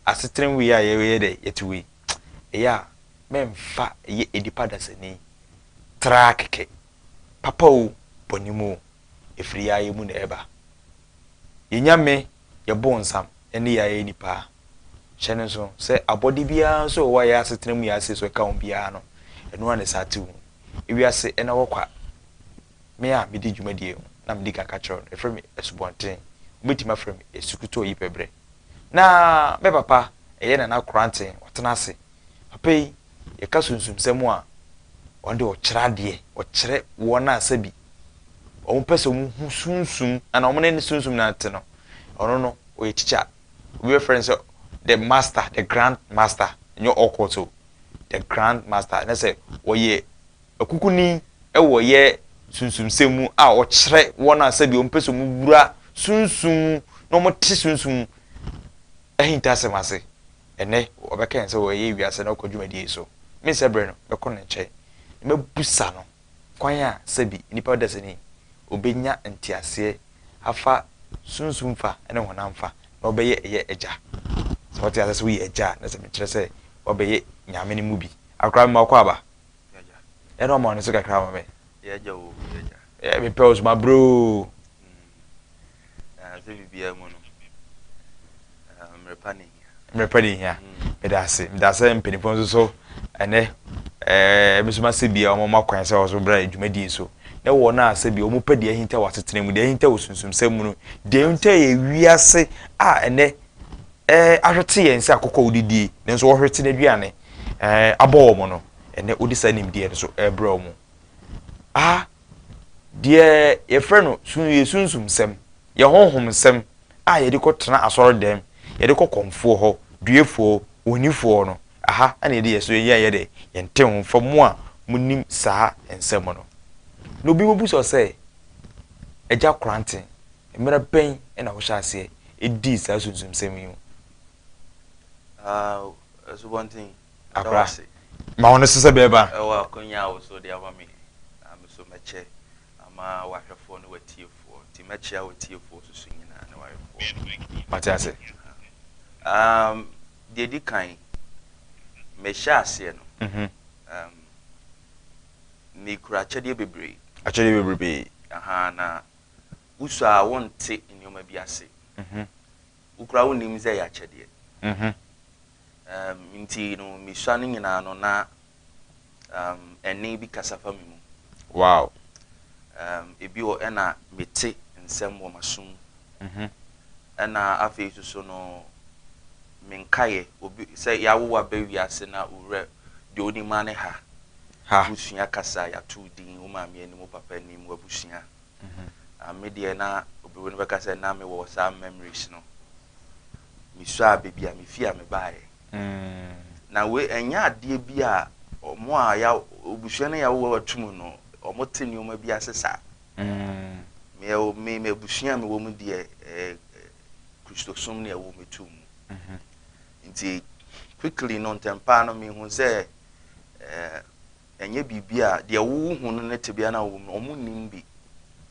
Asetram wei a yɛyɛ dɛ yɛte wei, ɛyɛ a mɛmfa yɛ nnipa dasani traa kɛkɛ, papa o, bɔne mu o, ɛfiri yaayɛ mu na ɛba. Yɛ Nyame, yɛ bonsam, ɛne yaayɛ nnipa a. Hyɛ no nso sɛ abɔde biara nso wɔ hɔ a yɛ asetena mu yɛ aseɛ so ɛka ho biara no, ɛno ara na ɛsaa te ho. Ewiase ɛna hɔ kwa. Me a medi dwumadie ho na medi kan ka kyerɛ wo no, yɛfrɛ me asubɔnten, wobɛtumi afrɛ me asukutuo ɔyipɛbrɛ. Na me papa yɛ Nana Korantse ɔtsena ase. Papa yi, yɛka sunsumsɛm a, ɔde ɔkyerɛ adeɛ, ɔkyerɛ wɔn a sɛbi wɔn pɛ sɛ wɔn hu sunsum ana wɔn ne sunsum na te no, ɔno no ɔyɛ teacher. Obi bɛfrɛ no sɛ the master, the grand master, nyɛ ɔkɔ so, the grand master, na sɛ ɔyɛ Akukuni wɔ yɛ sunsumsɛm mu a ɔkyerɛ wɔn a sɛdeɛ wɔn pɛ sɛ wɔn wura sunsum mu na wɔn te sunsum ahintasɛm ase. Ɛnɛ ɔbɛka yɛn sɛ wɔyɛ wiase na ɔkɔ dwumadie so. Me nsɛ brɛ no bɛkɔ ne nkyɛn na mɛbusa no kwan a sɛbi nipa dasani ɔbɛnya nteaseɛ afa sunsum fa ne honam fa na ɔbɛyɛ ɛyɛ agya. Sɛ ɔte aseɛ sɛ woyɛ agya a na sɛ mekyerɛ sɛ wabɛyɛ nyame no mu bi. Akora mma ɔkɔ aba Yagya. Ɛna ɔma ɔno so kakra ma me. Yagya o, yagya. Ɛ me pɛ osoma bro. Na sɛ bibia mu no. Mmerepa ne hia. Mmerepa ne hia. Meda ase. Meda ase mpanimfoɔ nso so ɛnɛ ɛɛ ebi nso ma sɛ bia wɔn ma kwan sɛ wɔn so bra dwumadie so. Na wɔn a sɛ bia wɔn pɛ deɛ ahinta wɔ asetena mu, deɛ ahinta wɔ sunsumsɛm mu no, deɛ ahinta yɛ wiase a ɛnɛ ɛɛ ahwete yɛn sɛ akokɔ a wɔdidie nanso wɔhwete n'aduane. abɔ wɔn no, ɛnnɛ wode saa nimdeɛ no so rebrɛ wɔn. A deɛ yɛfrɛ no sun yɛ sunsum nsɛm, yɛ honhom nsɛm a yɛde kɔtena asɔredɛm, yɛde kɔ kɔmfoɔ hɔ, duefoɔ, onifoɔ no, aha na yɛde yɛ so yɛ yɛ dɛ yɛnte ho mfa mu a monim saa nsɛm no. Na obi bɛbusa sɛ, Agya Koranten, mmerɛ bɛn na wohyɛ aseɛ dii saa sunsum nsɛm yi ho? Abra, ma wɔn so sɛ bɛɛba. Ɛwɔ akonya a wɔso de ama me, na me so mɛkyɛ ama w'ahwɛfoɔ ne w'atiefoɔ. Nti mɛkyea w'atiefoɔ so so nyinaa ne w'ahwɛfoɔ. Mate ase. Um, deɛ edi kan, mehyɛ aseɛ no, mm-hmm. um, mekura akyɛdeɛ bebree. Akyɛdeɛ bebree. Aha, na wosɔ a wonte nneɛma bi ase. Mm-hmm. Wo koraa wonnim sɛ ɛyɛ akyɛdeɛ. Ɛɛm, nti no mesua no nyinaa no na ɛɛm, ɛnne bi kasa fa me mu. Wow! Ɛɛm, ebi wɔ ɛna mete nsɛm wɔ m'aso mu. Ɛna afei nso so no, me nkaeɛ, obi, sɛ yɛawo wo aba wiase na wo werɛ, deɛ wonim ara ne ha. Ha. Wosua kasa, yɛato wo din, wo maame anim, wo papa anim, w'abusua. Me deɛ na obroni no bɛka sɛ na me wɔ saa memories no. Me suaa baabi a me fie a me baeɛ. Na wei ɛnyɛ adeɛ bi a wɔn a ya obusua no yawo ato mu no wɔn te nneɛma bi ase saa. Me ɛwɔ me me abusua a me wɔ mu deɛ ɛɛ kristosom ne ɛwɔ me tu mu. Nti quickly no ntɛmpaa no me hu sɛ ɛɛ. Ɛnyɛ biribi a deɛ wohu no ne tebea no a wɔwɔ mu no, wɔnnim bi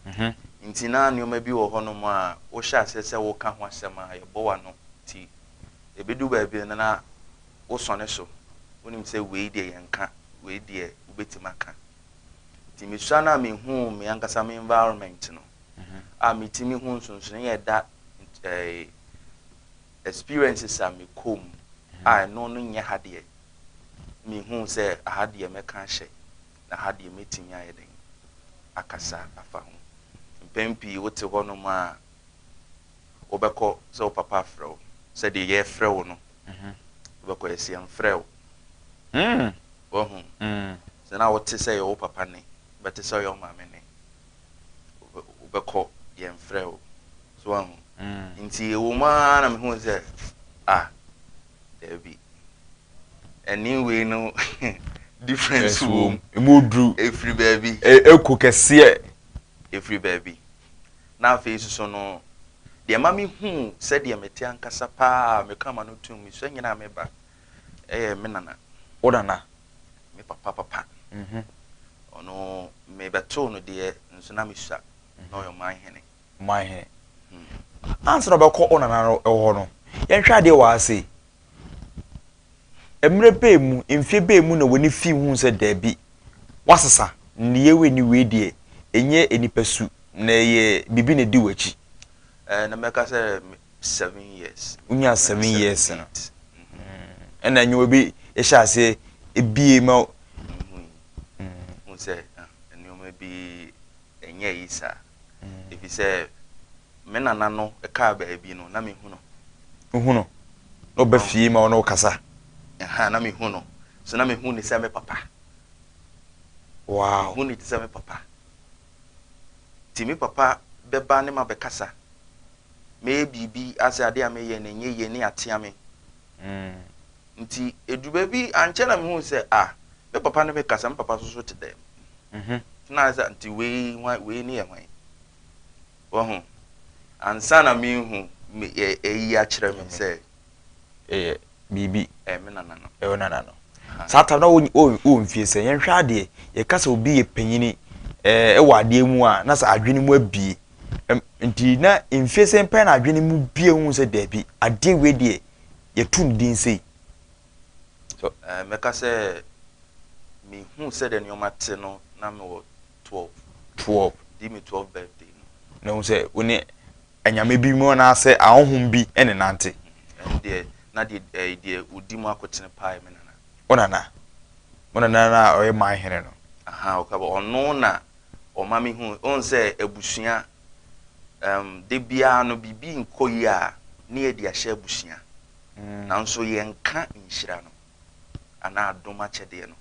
ho nti na nneɛma bi wɔ hɔnom a wohyɛ aseɛ sɛ woka ho asɛm a, yɛbɔ w'ano nti ɛbɛdu baabi no na wosɔne so, wonim sɛ wei deɛ yɛnka, wei deɛ wobɛtumi aka. Nti mesua no a mehuu me ankasa me environment no a metumi hu nsonsonoeɛ a ɛda experiences a mekɔ mu a ɛno no nyɛ ha deɛ mehuu sɛ aha deɛ mɛka ahyɛ na ha deɛ mɛtumi ayɛ dɛn akasa afa ho. Mpɛn pii wote hɔnom a wobɛkɔ sɛ wo papa afrɛ wo sɛdeɛ yɛrefrɛ wo no wobɛkɔ yɛse yɛmfrɛɛ wo wahu sɛ na wote sɛ ɛyɛ wo papa nne bɛte sɛ ɔyɛ wo maame nne. wobɛkɔ yɛmfrɛ wo so wahu nti ɛwɔ mu ara na mehu sɛ ah daabi ɛne wei no difference wɔ mu ɛmu duru ɛfiri baabi ɛko kɛseɛ ɛfiri baabi na afei soso no deɛ ma mehu sɛdeɛ mete ankasa paa meka ma no tom mesua nyina meba ɛyɛ me nana wo nana me papa papa ɔno mebɛtoo no deɛ nso na mesua na ɔyɛ ɔman hene ɔman hene hmm. ansa na ɔbɛkɔ ɔnana no hɔ no yɛnhwɛ adeɛ wɔ ase mmerɛ bɛɛ mu mfie bɛɛ mu na wɔne fi hu sɛ daabi wasesa nneyɛ wei ne wei deɛ ɛnyɛ nipa su na ɛyɛ biribi na ɛdi w'akyi na mɛka sɛ seven years. Wonya seven years no. Ɛna nyewa bi ɛhyɛ ase ebie ma. Ehu yi. Hu sɛ nneɛma bi ɛnyɛ yi sa. Efi sɛ me nana no ɛkaa baabi no na me hu no. Hu no. Na ɔba fie ma ɔno kasa. Ɛha na me hu no. So na me hu ne sɛ me papa. Wow. Me hu ne te sɛ me papa. Nti me papa bɛba ne mabɛkasa, mɛyɛ biribi asɛ adeɛ a meyɛ no ɛnyɛ yie ne atea me. Nti ɛduru baabi ankyɛ na mehuu sɛ ah me papa ne me kasa, me papa nso so te dɛm. Nti na ayɛ sɛ nti wei hwan, wei ne yɛ hwan? Wahu? Ansa na merehu me, ayi akyerɛ me sɛ. biribi. Ɛyɛ me nana no. Ɛyɛ wo nana no. Saa tam na wɔ wɔ mfie sɛ yɛn hwɛ adeɛ yɛka sɛ obi yɛ panyini ɛɛ ɛwɔ adeɛ mu a na sɛ adwene mu abie nti na mfie sɛ pɛn na adwene mu bie hu sɛ daabi adeɛ wei deɛ yɛtu ne din sei. So ɛɛ mɛka sɛ mehu sɛ deɛ nneɛma te no na mewɔ. twelve. Twelve, di me twelve birthday no. Na ehu sɛ wo ne anyame bi mu anaasɛ ahonhom bi ne nante. Ɛno deɛ na deɛ ɛɛ deɛ odi mu akotene paa yɛ me nana. Wo nana? Wo nana no a ɔyɛ man hene no? Ahaa ɔka bɔ ɔno na ɔma me hu wohu sɛ abusua ɛɛm da biara no biribi nkɔ yie a ne yɛde ahyɛ abusua nanso yɛnka nhyira no. anaa dom akyɛdeɛ no.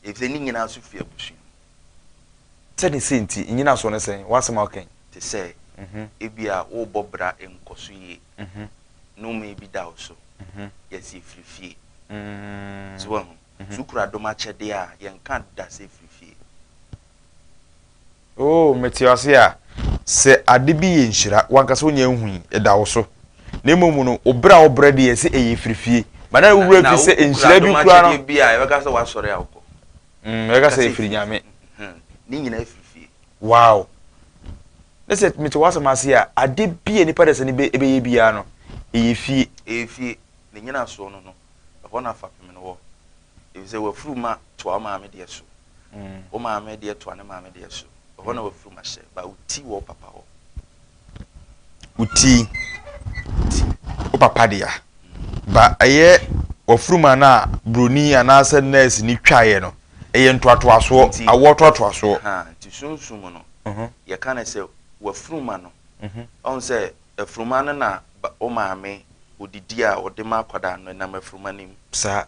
Efisɛ ne nyinaa nso firi abusua mu. Sɛdeɛ sei nti, nnyinasoɔ ne sɛn? W'asɛm a woka yi. Te sɛ, ebia worebɔ bra nkɔ so yie, nnome bi da wo so, yɛasi afiri fie. So woahu? So wokura dom akyɛdeɛ a, yɛnka da sɛ firi fie. Oh, mete ase a, sɛ ade bi yɛ nhyira, w'ankasa wonnya nhui, ɛda wo so. Na mmom no, wo brɛ a wobrɛ deɛ, ɛsɛ ɛyɛ firi fie. Ma na wo werɛ fi sɛ nhyira bi koraa no. Na wo kura dom akyɛdeɛ bi a, yɛbɛka sɛ w'asɔre a wokɔ. Mm, yɛbɛka sɛ ɛfiri Nyame. Ne nyinaa ɛfiri fie. Wow! Ne sɛ mete w'asɛm ase a, ade bi a nipa dasani bɛyɛ biara no, ɛyɛ fie. Ɛyɛ fie. Ne nyinasoɔ no no, ɛhɔ na fapem no wɔ. Efisɛ w'afuruma toa wo maame deɛ so, wo maame deɛ toa ne maame deɛ so. Ɛhɔ na w'afuruma hyɛ, ba wo ti wɔ wo papa hɔ. Wo ti, wo papa dea. Ba ɛyɛ w'afuruma no a buroni anaasɛ nɛɛse ni twaeɛ no, ɛyɛ ntoatoasoɔ, awoɔ toatoasoɔ. Nti sunsum no, mhm. yɛka no sɛ w'afuruma no. Mhm. Ɔhu sɛ afuruma no na wo maame odidi a ɔde ma akwadaa no nam afuruma no mu. Saa.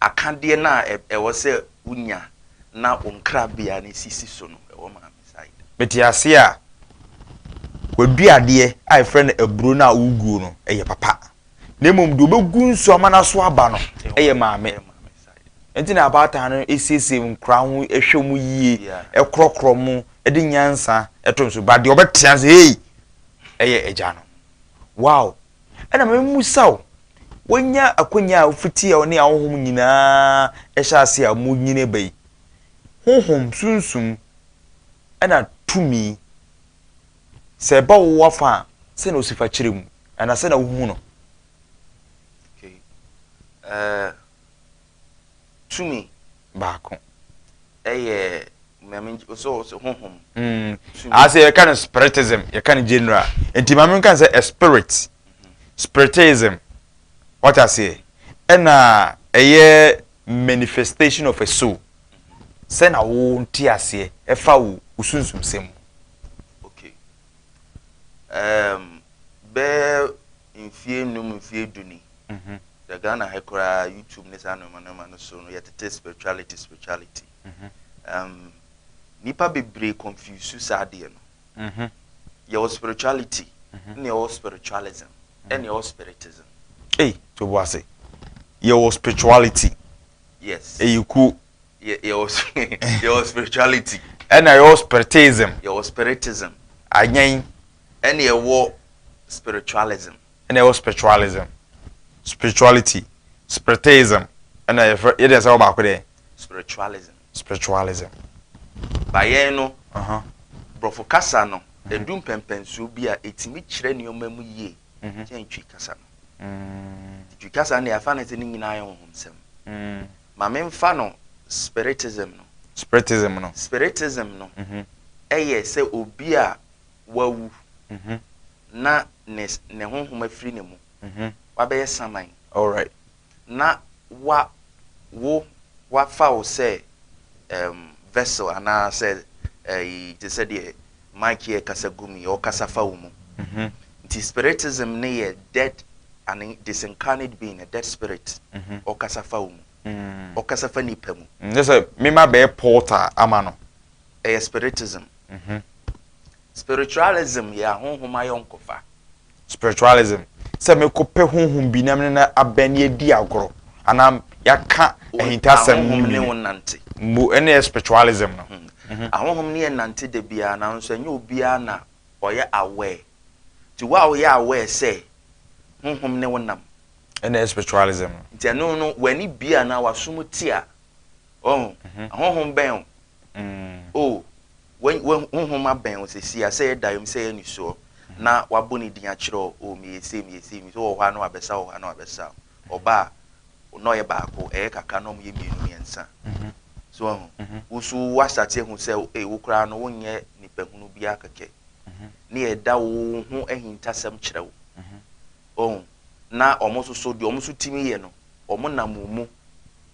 Akadeɛ no a ɛwɔ sɛ wo nya na wo nkrabea no sisi so no ɛwɔ maame side. Mete aseɛ a, w'adua adeɛ a yɛfrɛ no aburo no a woguo no ɛyɛ papa na mmom deɛ wobɛgu nsuo ama no aso aba no ɛyɛ maame nti na abaatan no siesie nkora ho ɛhwɛ mu yie ɛkorɔkorɔ mu ɛde nyansa ɛto nso ba deɛ ɔbɛtea sɛ hei ɛyɛ agya no wow Ɛna ma memmisa wo, woanya akwanya a ofiti a ɔne ahonhom nyinaa hyɛ ase a munyin ba yi, honhom, sunsum, ɛna tumi, sɛ ɛba wo afa a, sɛnea osi fa kyerɛ mu, anaa sɛnea wuhu no? Okay. Uh, Tumi baako yɛ Nyame sɛ ɔsɛ honhom. Mm. Ase yɛka no spiritism, yɛka no general. Nti maame nka sɛ a spirit, mhm. spiritism, what I say, ɛna ɛyɛ manifestation of a soul. Sɛ na wo nti aseɛ ɛfa wo osunsum sɛ mu. Okay. Um, bɛɛ mfie nnum mfie du ni hwɛ Ghana ha koraa YouTube ne saa nnoɔma nnoɔma no so no yɛtete spirituality spirituality um, nipa bebree confuse saa adeɛ no yɛwɔ spirituality ne yɛwɔ spiritualism ɛne yɛwɔ spiritism ei to bo ase yɛwɔ spirituality yes ɛyɛ kuo yɛwɔ spirituality ɛna yɛwɔ spiritism yɛwɔ spiritism anyɛn Ɛna ɛwɔ spiritualism. Ɛna ɛwɔ spiritualism, spirituality, spiriteism, ɛna yɛfrɛ yɛde ɛsɛ wɔ baako dɛ. Spiritualism. Spiritualism. Ba yɛn no, borɔfo kasa no, edu mpɛmpɛnsoɔ bi a etumi kyerɛ nneɛma mu yie kyɛn Twi kasa no. Nti Twi kasa no deɛ yɛafa no sɛ ne nyinaa yɛ honhomsɛm. Ma memfa no spiritism no. Spiritism no. Spiritism no yɛ sɛ obi a wawu na ne ne honhom afiri ne mu, wabɛyɛ saman, na wa wo wafa wo sɛ um, vessel anaa sɛ ɛyi te sɛ deɛ mic yɛ kasa gu mu yi, ɔkasa fa wo mu. Nti spiritism ne yɛ dead and disincarnate being, a dead spirit, ɔkasa fa wo mu, ɔkasa fa nipa mu. N sɛ mema bɛyɛ portal ama no. Ɛyɛ spiritism. Spiritualism yɛ ahonhom ayɔnkofa. Spiritualism, sɛ mekɔpɛ honhom bi na me ne no abɛn na yɛadi agorɔ anaa yɛaka ahintasɛm. Ahonhom ne wo nante. Mbu, ɛne yɛ spiritualism no. Hmm. Ahonhom ne yɛ nante da biara nanso ɛnyɛ obiara na ɔyɛ aware. Nti wo a woyɛ aware sɛ honhom ne wo nam. Ɛne yɛ spiritualism no. Nti ɛno no w'ani bie anaa w'aso mu te a, ɔho, mhm. ahonhom bɛn o. Oh, w'any w'ahu wo ho ma bɛn wo sɛsi a, sɛ yɛ daeɛm, sɛ yɛ anisoɔ, na w'abɔ ne din akyerɛ wo, oh, meyɛ sei, meyɛ sei, meyɛ sei, wowɔ hɔ a na w'abɛsa, wowɔ hɔ a na w'abɛsa, ɔba a, na ɔyɛ baako, ɛyɛ kakra na wɔyɛ mmienu, mmiɛnsa. So woahu? Wo nso wo asate ahu sɛ, ei, wo koraa no, wonyɛ nipahunu bi ara kɛkɛ, ne yɛ da wo ho ahintasɛm kyerɛ wo, oh, na wɔn nso so, deɛ wɔn nso tumi yɛ no, wɔnam wo mu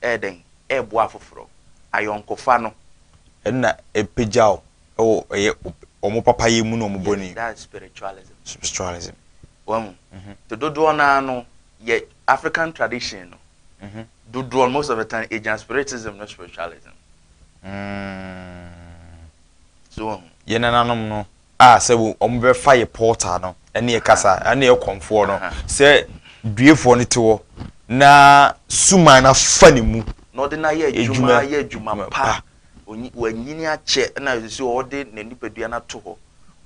reyɛ dɛn reboa afoforo? Ayɔnkofa no. Ɛno na ɛpagya wo wɔ ɛyɛ wɔn papayɛ mu ne wɔn bɔne mu. Yes, that's spiritualism. Spiritualism. Wahu? Nti dodoɔ no ara no, yɛ African tradition no, dodoɔ no, most of the time, ɛgyina spiritism ne spiritualism. So wahu? Yɛn nananom no, a sɛ wɔbɛfa yɛ portal no ne yɛ kasa ne yɛ kɔmfoɔ no sɛ duefoɔ no te hɔ na suman no afa ne mu na ɔde no ayɛ adwuma ayɛ adwuma pa wanyini akyɛ na sɛ ɔde n'anipadua no ato hɔ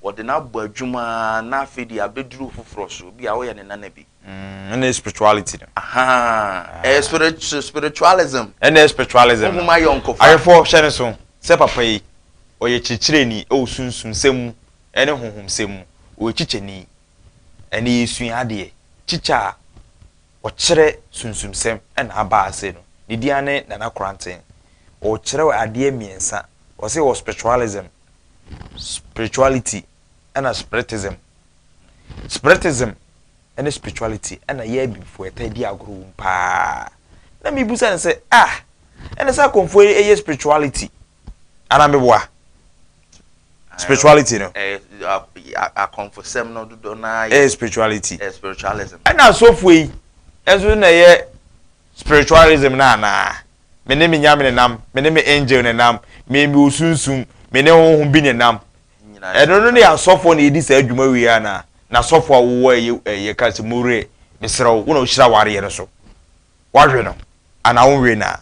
wɔde no abɔ adwuma na afei deɛ abɛduru foforɔ so bi a woyɛ ne nana bi Mm, ɛna yɛ spirituality no. Ahaa, ɛyɛ spiritu spiritualism. Ɛna yɛ spiritualism no. Mo ma yɔ nkɔfa. Ayɛfo hyɛ ne so sɛ papa yi ɔyɛ kyerɛkyerɛni ɛwɔ sunsum sɛm mu ɛne honhom sɛm mu. Ɔyɛ kyikyɛni. Ɛna yɛ sua adeɛ. Kyikyɛ a ɔkyerɛ sunsum sɛm ɛna aba ase no. Ne din ane Nana Koranten. Ɔkyerɛ adeɛ mmiɛnsa. Ɔsɛ wɔ spiritualism, spirituality ɛna spiritism. Spiritism ne spirituality na yɛɛ Bibfoɔ taa di agorɔ wɔ mu paa. Na me busa no sɛ ah ɛne saa kɔmfoɔ yi yɛ spirituality anaa meboa? Spirituality no. Akɔmfosɛm no dodo na yɛ. Ɛyɛ spirituality. Ɛyɛ spiritualism. Ɛna asɔfoɔ yi nso na ɛyɛ spiritualism no anaa? Me ne me nyame nenam, me ne me angel nenam, me me osunsum, me ne honhom bi nenam. Ɛno no ne asɔfoɔ na yɛdi saa dwuma wei anaa? Na asɔfoɔ a wowɔ ɛyɛ ɛyɛ ka sɛ mowerɛ mesrɛ wo, wo na wohyira awareɛ no so. Woawe no anaa wonwee no a?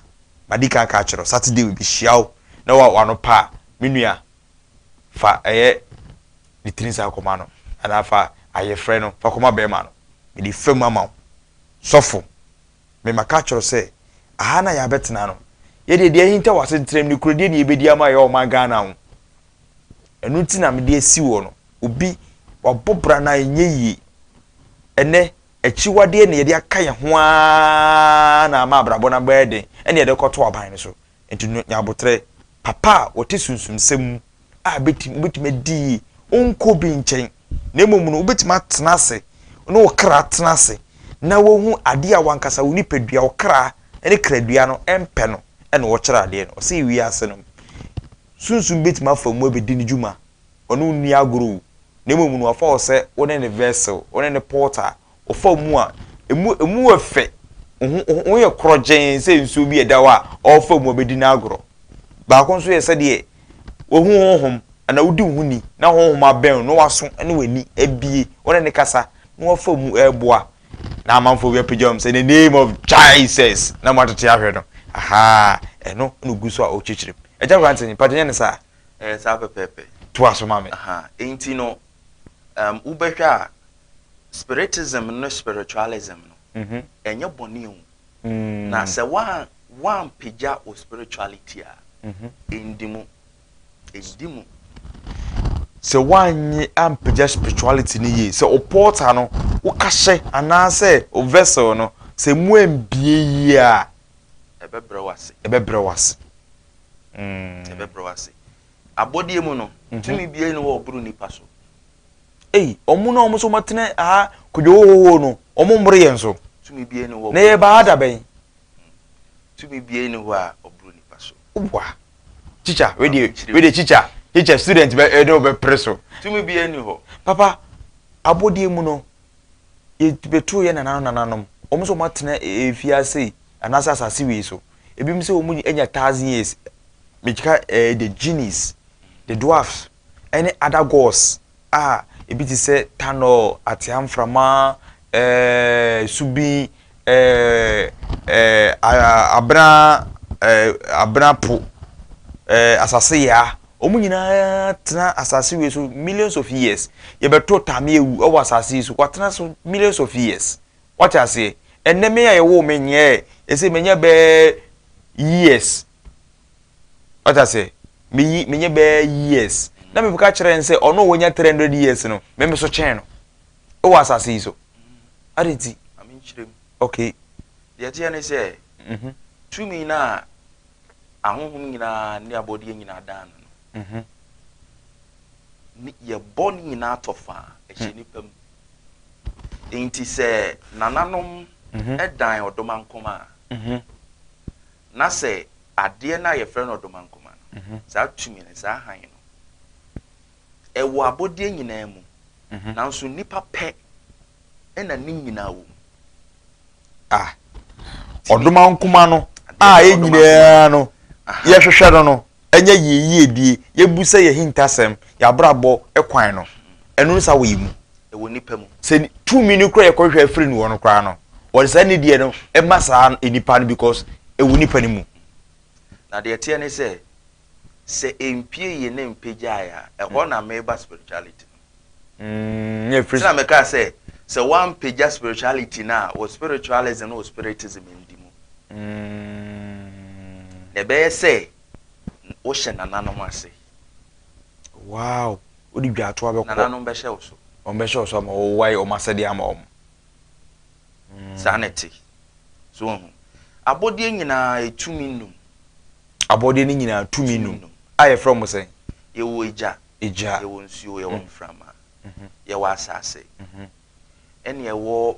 Madi kan aka akyerɛ wo, Saturday wei bɛhyia wo na wa w'ano pa a, me nua fa ɛyɛ ne tiri nsa kɔma no anaa fa ayefrɛ no fa kɔma bɛrima no. Mede fam ama wo. Sɔfo, me maka akyerɛ wo sɛ aha na yɛabɛtena no. Yɛdeɛ deɛ ahinta wɔ asetram ne kurodie na yɛbɛdi ama yɛ ɔman Ghana ho. Ɛno nti na mede asi hɔ no. Obi, wabɔ bra na ɛnyɛ yie. Ɛnnɛ, akyiwadeɛ na yɛde aka yɛn ho ara na ama abrabɔ no abɛyɛ den, ɛne yɛde kɔto aban no so. Nti no, nya abotrɛ. Papa a wɔte sunsumsɛm mu a bɛtumi wobɛtumi adi yie, wonkɔ obi nkyɛn, na mmom no wobɛtumi atena ase ne wo kra atena ase na woahu adeɛ a wankasa wo nipadua, wo kra ne kradua no mpɛ no ɛna wɔkyerɛ adeɛ no. Ɔsɛ wiase no Sunsum betumi afa mu abedi ne dwuma. Ɔne wo nni agorɔ o, na mmom no wafa wo sɛ wo ne ne vessel, wo ne ne pot a ɔfa mu a emu emu yɛ fɛ, wo ho wo ho yɛ korɔgyeen sɛ nsuo bi a ɛda hɔ a ɔrefa mu abedi no agorɔ. Baako nso yɛ sɛdeɛ wahu honhom anaa wodi wo ho ni na honhom abɛn wo na w'aso ne w'ani abue, wo ne no kasa na wafa mu reboa na amanfoɔ bi apagya wɔn sɛ the name of jesus na wɔn atete ahwɛ no ahaa ɛno na ogu so a ɔrekyerɛkyerɛ mu ɛgya aberante ne mpakyɛ nyɛ ne saa. ɛyɛ saa pɛpɛɛpɛ. to aso ma me. nti no um, wobɛhwɛ a spiritism ne spiritualism no mhm. ɛnyɛ bɔne o mm. na sɛ woampagya wo spirituality a ɛndi mhm. mu Ɛdi mu. Sɛ woannye ampagya spirituality no yie, sɛ wo portal no, wo kahyɛ anaasɛ wo vessel no, sɛ emu ammue yie a, ɛbɛbrɛ wo ase. Ɛbɛbrɛ wo ase. Mm. Ɛbɛbrɛ wo ase. Abɔdeɛ mu no, mhm. tumi biara ni wɔ ɔboro nnipa so. Ei, ɔmo na ɔmo so ɔmatena aha kodwohohoho no, ɔmo mmoro yɛn so. Tumi biara ni wɔ. Na yɛba ha da bɛn? Tumi biara ni hɔ a ɔboro nnipa so. Wa. Teacher, we de, we de teacher, teacher student bɛ ɛde eh, ɔbɛ pere so. Tumi bi ɛni hɔ. Papa, abɔdeɛ mu no, yɛbɛtoo yɛ nananom nananom, wɔn nso wɔn atena efie ase yi, anaasɛ asase wei so. Ebinom sɛ wɔn anya thousand years, megyika ɛɛ the genies, the dwarfs, ɛne other gods a ebi te sɛ tanɔl, atea mframa, ɛɛɛ subin, ɛɛɛ ɛɛɛ abena ɛɛɛ abena po, ɛɛɛ asase yaa. Wɔn nyinaa tena asase wei so millions of years. Yɛbɛto Tame awu wɔ asase yi so, watena so millions of years. Wate aseɛ? Ɛnnɛ me a yɛwoo me nyɛɛ ɛsɛ manya bɛɛ years. Ɔta sɛ, Meyi, menyɛ bɛyɛ years. Na mebɛka kyerɛ no sɛ ɔno a wanya 300 years no, me me so kyɛn no. Wɔ asase yi so. Adɛn nti? Ma me nkyerɛ mu. Okay. Deɛ ɛteɛ ne sɛ, mm-hmm, tumi no a ahonhom nyinaa ne abɔdeɛ nyinaa daa no no, mm-hmm, yɛbɔ ne nyinaa tɔ fã, ɛhyɛ hmm. nipa mu. Enti sɛ nananom mm-hmm. dan ɔdomankoma a, mm-hmm. Na sɛ adeɛ no a yɛfrɛ no ɔdomankoma no, saa tumi no, saa hann no, ɛwɔ abɔdeɛ nyinaa mu, nanso nnipa pɛ na ne nyinaa wɔ mu. A. Ɔdomankoma no a yɛn nyinaa no yɛhwehwɛ no no, anya yie yiedie, yɛbu sɛ yɛn ahintasɛm, yɛn abrabɔ kwan no, ɛno no saa wɔ yɛn mu. Ɛwɔ nipa mu. Sɛ tumi no kora yɛkɔhwehwɛ firi no hɔ no koraa no, wɔde saa nidie no ma saa nipa no because ɛwɔ nipa no mu. Na deɛ ɛteɛ ne sɛ, sɛ ɛmpue yɛn na ɛmpagyae a, ɛhɔ na meba spirituality no. Ɛnti na mekaa sɛ, sɛ woampagya spirituality no a, wo spiritualism ne wo spiritism ndi mu. Na ɛbɛyɛ sɛ wohyɛ nananom ase. Wow! Wode dwaatoa bɛkɔ. Nananom bɛhyɛ wo so. Wɔbɛhyɛ wo so ama wo, woayɛ wɔn asɛdeɛ ama wɔn. Saa na ɛte. So woahu? Abɔdeɛ nyinaa, ɛtumi nnum. Abɔdeɛ no nyinaa tumi nnum. A yɛfrɛ wɔn sɛn? Yɛwɔ Agya, Egya. Yɛwɔ nsuo, yɛwɔ mframa, yɛwɔ asase, ɛne yɛwɔ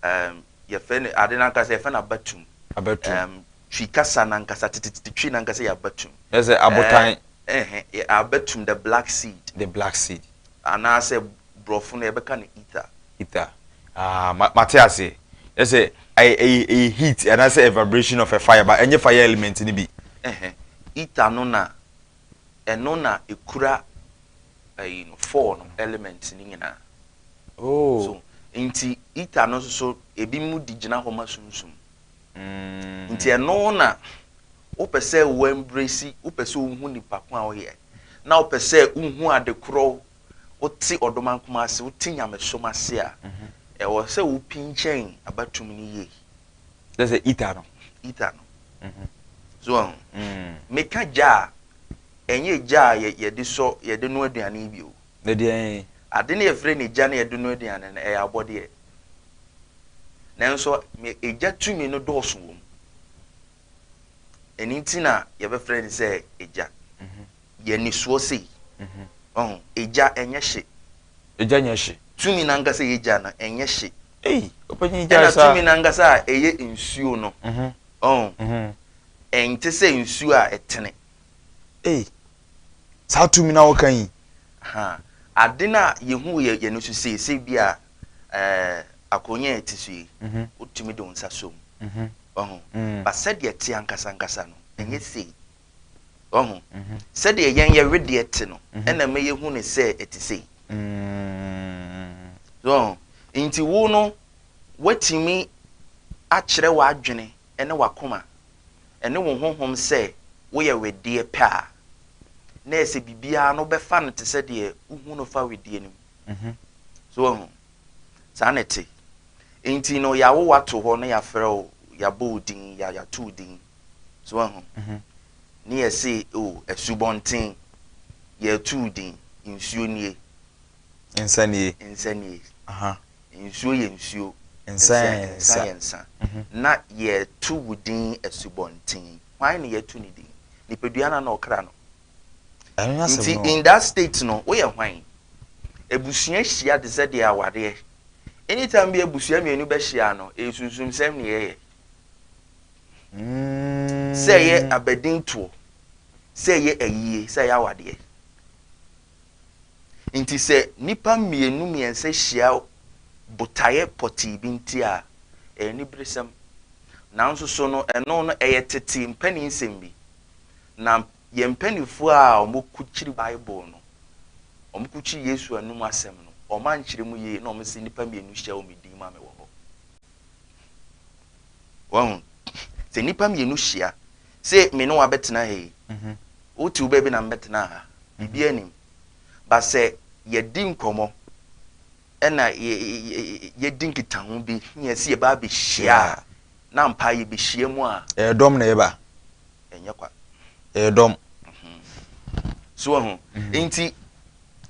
um, yɛfɛ no ade no ankasa yɛfɛ no abatum. Abatum. Um, twi kasa no ankasa tititi twi no ankasa yɛ abatum. Yɛ sɛ abotan. Eh, eh, eh abatum the black seed. The black seed. Anaasɛ borɔfo no yɛbɛka no ether. Ether. Ah, mate ase. Yɛ sɛ ɛyɛ heat anaasɛ a vibration of a fire ba ɛnyɛ fire element no bi. Eh, eh. Ether no na Ɛno na ɛkura ɛyi no, four no elements no nyinaa. Oh. So, nti ether no nso so, ebi mu di gyina hɔ ma sunsum. Mm. Nti ɛno na wopɛ sɛ wo embrace, wopɛ sɛ wohu nipa ko a woyɛ, na wopɛ sɛ wohu ade korɔ, wote ɔdomankoma ase, wote nyamesom ase a, mhm. ɛwɔ sɛ wopinkyɛn abatum no yie. Kyerɛ sɛ heater no. Heater no. So wahu? Meka gya a, ɛnyɛ gya a yɛde sɔ yɛde no aduane bio. Ne deɛn? Ade no yɛfrɛ no gya no yɛde no aduane no, ɛyɛ abɔdeɛ. Nanso egya tumi no dɔɔso wɔ mu. Ɛno nti na yɛbɛfrɛ no sɛ egya. Yɛ nisoɔ sei. Ɔho, egya ɛnyɛ hye. Egya nyɛ hye. Tumi no ankasa a ɛyɛ gya no, ɛnyɛ hye. Ei, ɔpanyin gyae saa. Ɛna tumi no ankasa a ɛyɛ nsuo no, ɔho, ɛnte sɛ nsuo a ɛtene. Ei, saa tumi no a woka yi. Ha, ade no a yɛhu wɔ yɛn ani so sei, sɛ bi a ɛɛ akonya a ɛte so yi, wotumi de wo nsa sɔ mu. Ɔho, ba sɛdeɛ ɛte ankasa ankasa no, ɛnyɛ sei. Wahu? Sɛdeɛ yɛn yɛ wedeɛ te no, ɛna ɛma yɛhu no sɛ ɛte sei. So wahu? Nti wo no, woatumi akyerɛ w'adwene ne w'akoma ne wo honhom sɛ woyɛ wedeɛ pɛ a, na ɛsɛ biribiara no wobɛfa no te sɛ deɛ wohu no fa wedeɛ no mu. So wahu? Saa na ɛte. Nti no, yɛawo wo ato hɔ na yɛafrɛ wo, yɛabɔ wo din, yɛato wo din. So wahu? Ne yɛse o, asubɔnten, yɛretuu din, nsuo nie. Nsa nie. Nsa nie. Nsuo yɛ nsuo. Nsa yɛ nsa. Nsa yɛ nsa. Na yɛretu wo din asubɔnten. Hwan na yɛatu ne din? Nipadua no anaa ɔkra no? Ɛno ne asɛm no. Nti in that state no, woyɛ hwan? Abusua hyia te sɛ deɛ awareɛ. Anytime bi a abusua mmienu bɛhyia no, ɛyɛ sunsumsɛm na yɛyɛ. Sɛ ɛyɛ abadintoɔ, sɛ ɛyɛ ayie, sɛ ɛyɛ awadeɛ. Nti sɛ nnipa mmienu mmiɛnsa hyia botaeɛ pɔtee bi nti a, ɛyɛ aniberesɛm. Nanso so no, ɛno no, ɛyɛ tete mpaninsɛm bi. Na yɛn mpanimfoɔ a wɔkukyiri Bible no, wɔkukyiri Yesu anom asɛm no, wɔankyerɛ mu yie na wɔse nnipa mmienu hyia wɔ me din mu a mewɔ hɔ. wahu sɛ nnipa mmienu hyia sɛ me ne wabɛtena ha yi mhm. wote wo baabi na mbɛtena ha biribi anim ba sɛ yɛdi nkɔmmɔ ɛna yɛdi nkitaho bi ne yɛsi yɛba abɛhyia a na mpa yɛbɛhyia mu a ɛdɔm na ɛba ɛnyɛ kwa ɛdɔm mhm. so ho mhm. nti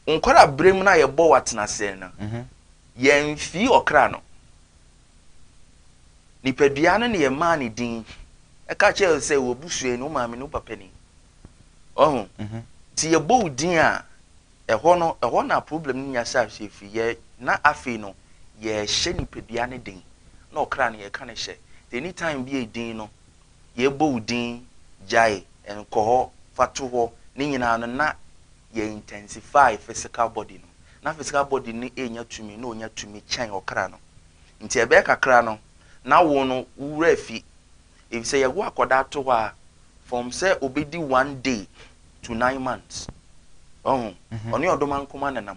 nkɔra berɛ mu no a yɛbɔ watenaseɛ no Yɛn fii ɔkra no. Nipadua no na yɛ maa ne din. Ɛka kyerɛ wo sɛ wɔ busuani wo maame ne wo papa ni. Wahu? Nti yɛ bɔ wo din a, ɛhɔ no, ɛhɔ na problem no nya saa hyɛ firi. Yɛ na afei no yɛ hyɛ nipadua no den. Na ɔkra no yɛ ka no hyɛ. Nti any time bi a din no, yɛ bɔ wo din, gyae, nkɔ hɔ, fa to hɔ, ne nyinaa no na yɛ intensify physical body no, na physical body no renya tumi na onya tumi kyɛn ɔkra no. Nti ɛbɛyɛ kakra no na wo no wo wura afi, efisɛ yɛwo akɔdaa to hɔ a from sɛ obedi one day to nine months. Wahu? Ɔne ɔdomankoma na ɛnam.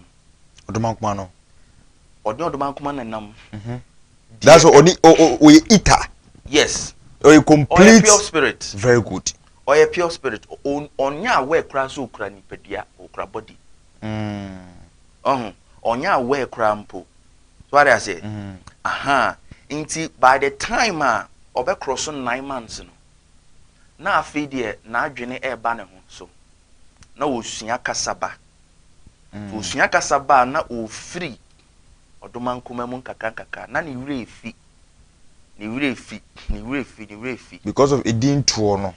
Ɔdomankoma no. Ɔne ɔdomankoma na ɛnam. That's why ɔne ɔyɛ eater. Yes. Ɔyɛ complete. Ɔyɛ pure spirit. Very good. Ɔyɛ pure spirit ɔnyɛ aware koraa sɛ ɔkura nipadua ɔkura body ɔho ɔnyɛ aware koraa mpo so wade aseɛ ahaa nti by the time a ɔbɛkorɔ so nine months no na afei deɛ n'adwene ɛreba ne ho so na ɔsua kasaba ɔsua kasaba a na ɔfiri ɔdomankoma mu nkakrankakra, na ne werɛ refi, ne werɛ refi, ne werɛ refi, ne werɛ refi. Because of edin toɔ no,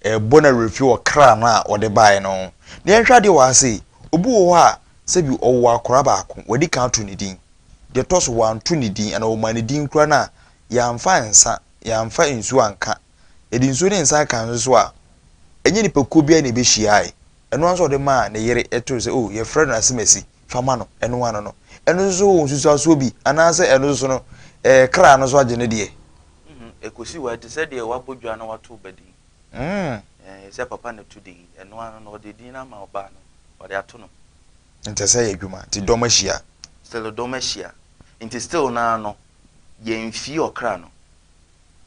ɛrebɔ n'awerɛfi wɔ kra no a ɔde baeɛ no ho. Na yɛnhwɛ adeɛ wɔ ha sei, obi wɔ hɔ a, sɛbi ɔwoo akwadaa baako, wadi kan ato ne din. Deɛ ɛtɔ so, wanto ne din, anaa wɔmaa ne din koraa no a, yɛamfa nsa, yɛamfa nsuo anka. Yɛde nsuo ne nsa kaa nso so a, ɛnyɛ nnipakuo biara na ɛbɛhyiaeɛ. Ɛno ara nso a ɔde maa ne yere too sɛ, oh, yɛfrɛ no asemasi. fa ma no, ɛno ano no. Ɛno nso so wɔ nsusuasoɔ bi, anaasɛ ɛno nso so no, ɛɛ, kra no so agye ne deɛ? Mm-hmm. Ɛkɔsi hɔ a, ɛte sɛ deɛ wabɔ dwa na wato ba din. Mm. Ɛɛ, sɛ papa na to din, ɛno ano no, ɔde din no ama ɔbaa no, ɔde ato no. Nti ɛsɛ yɛ adwuma, nti dɔm ahyia. Still dɔm ahyia. Nti still no ara no, yɛmfii ɔkra no.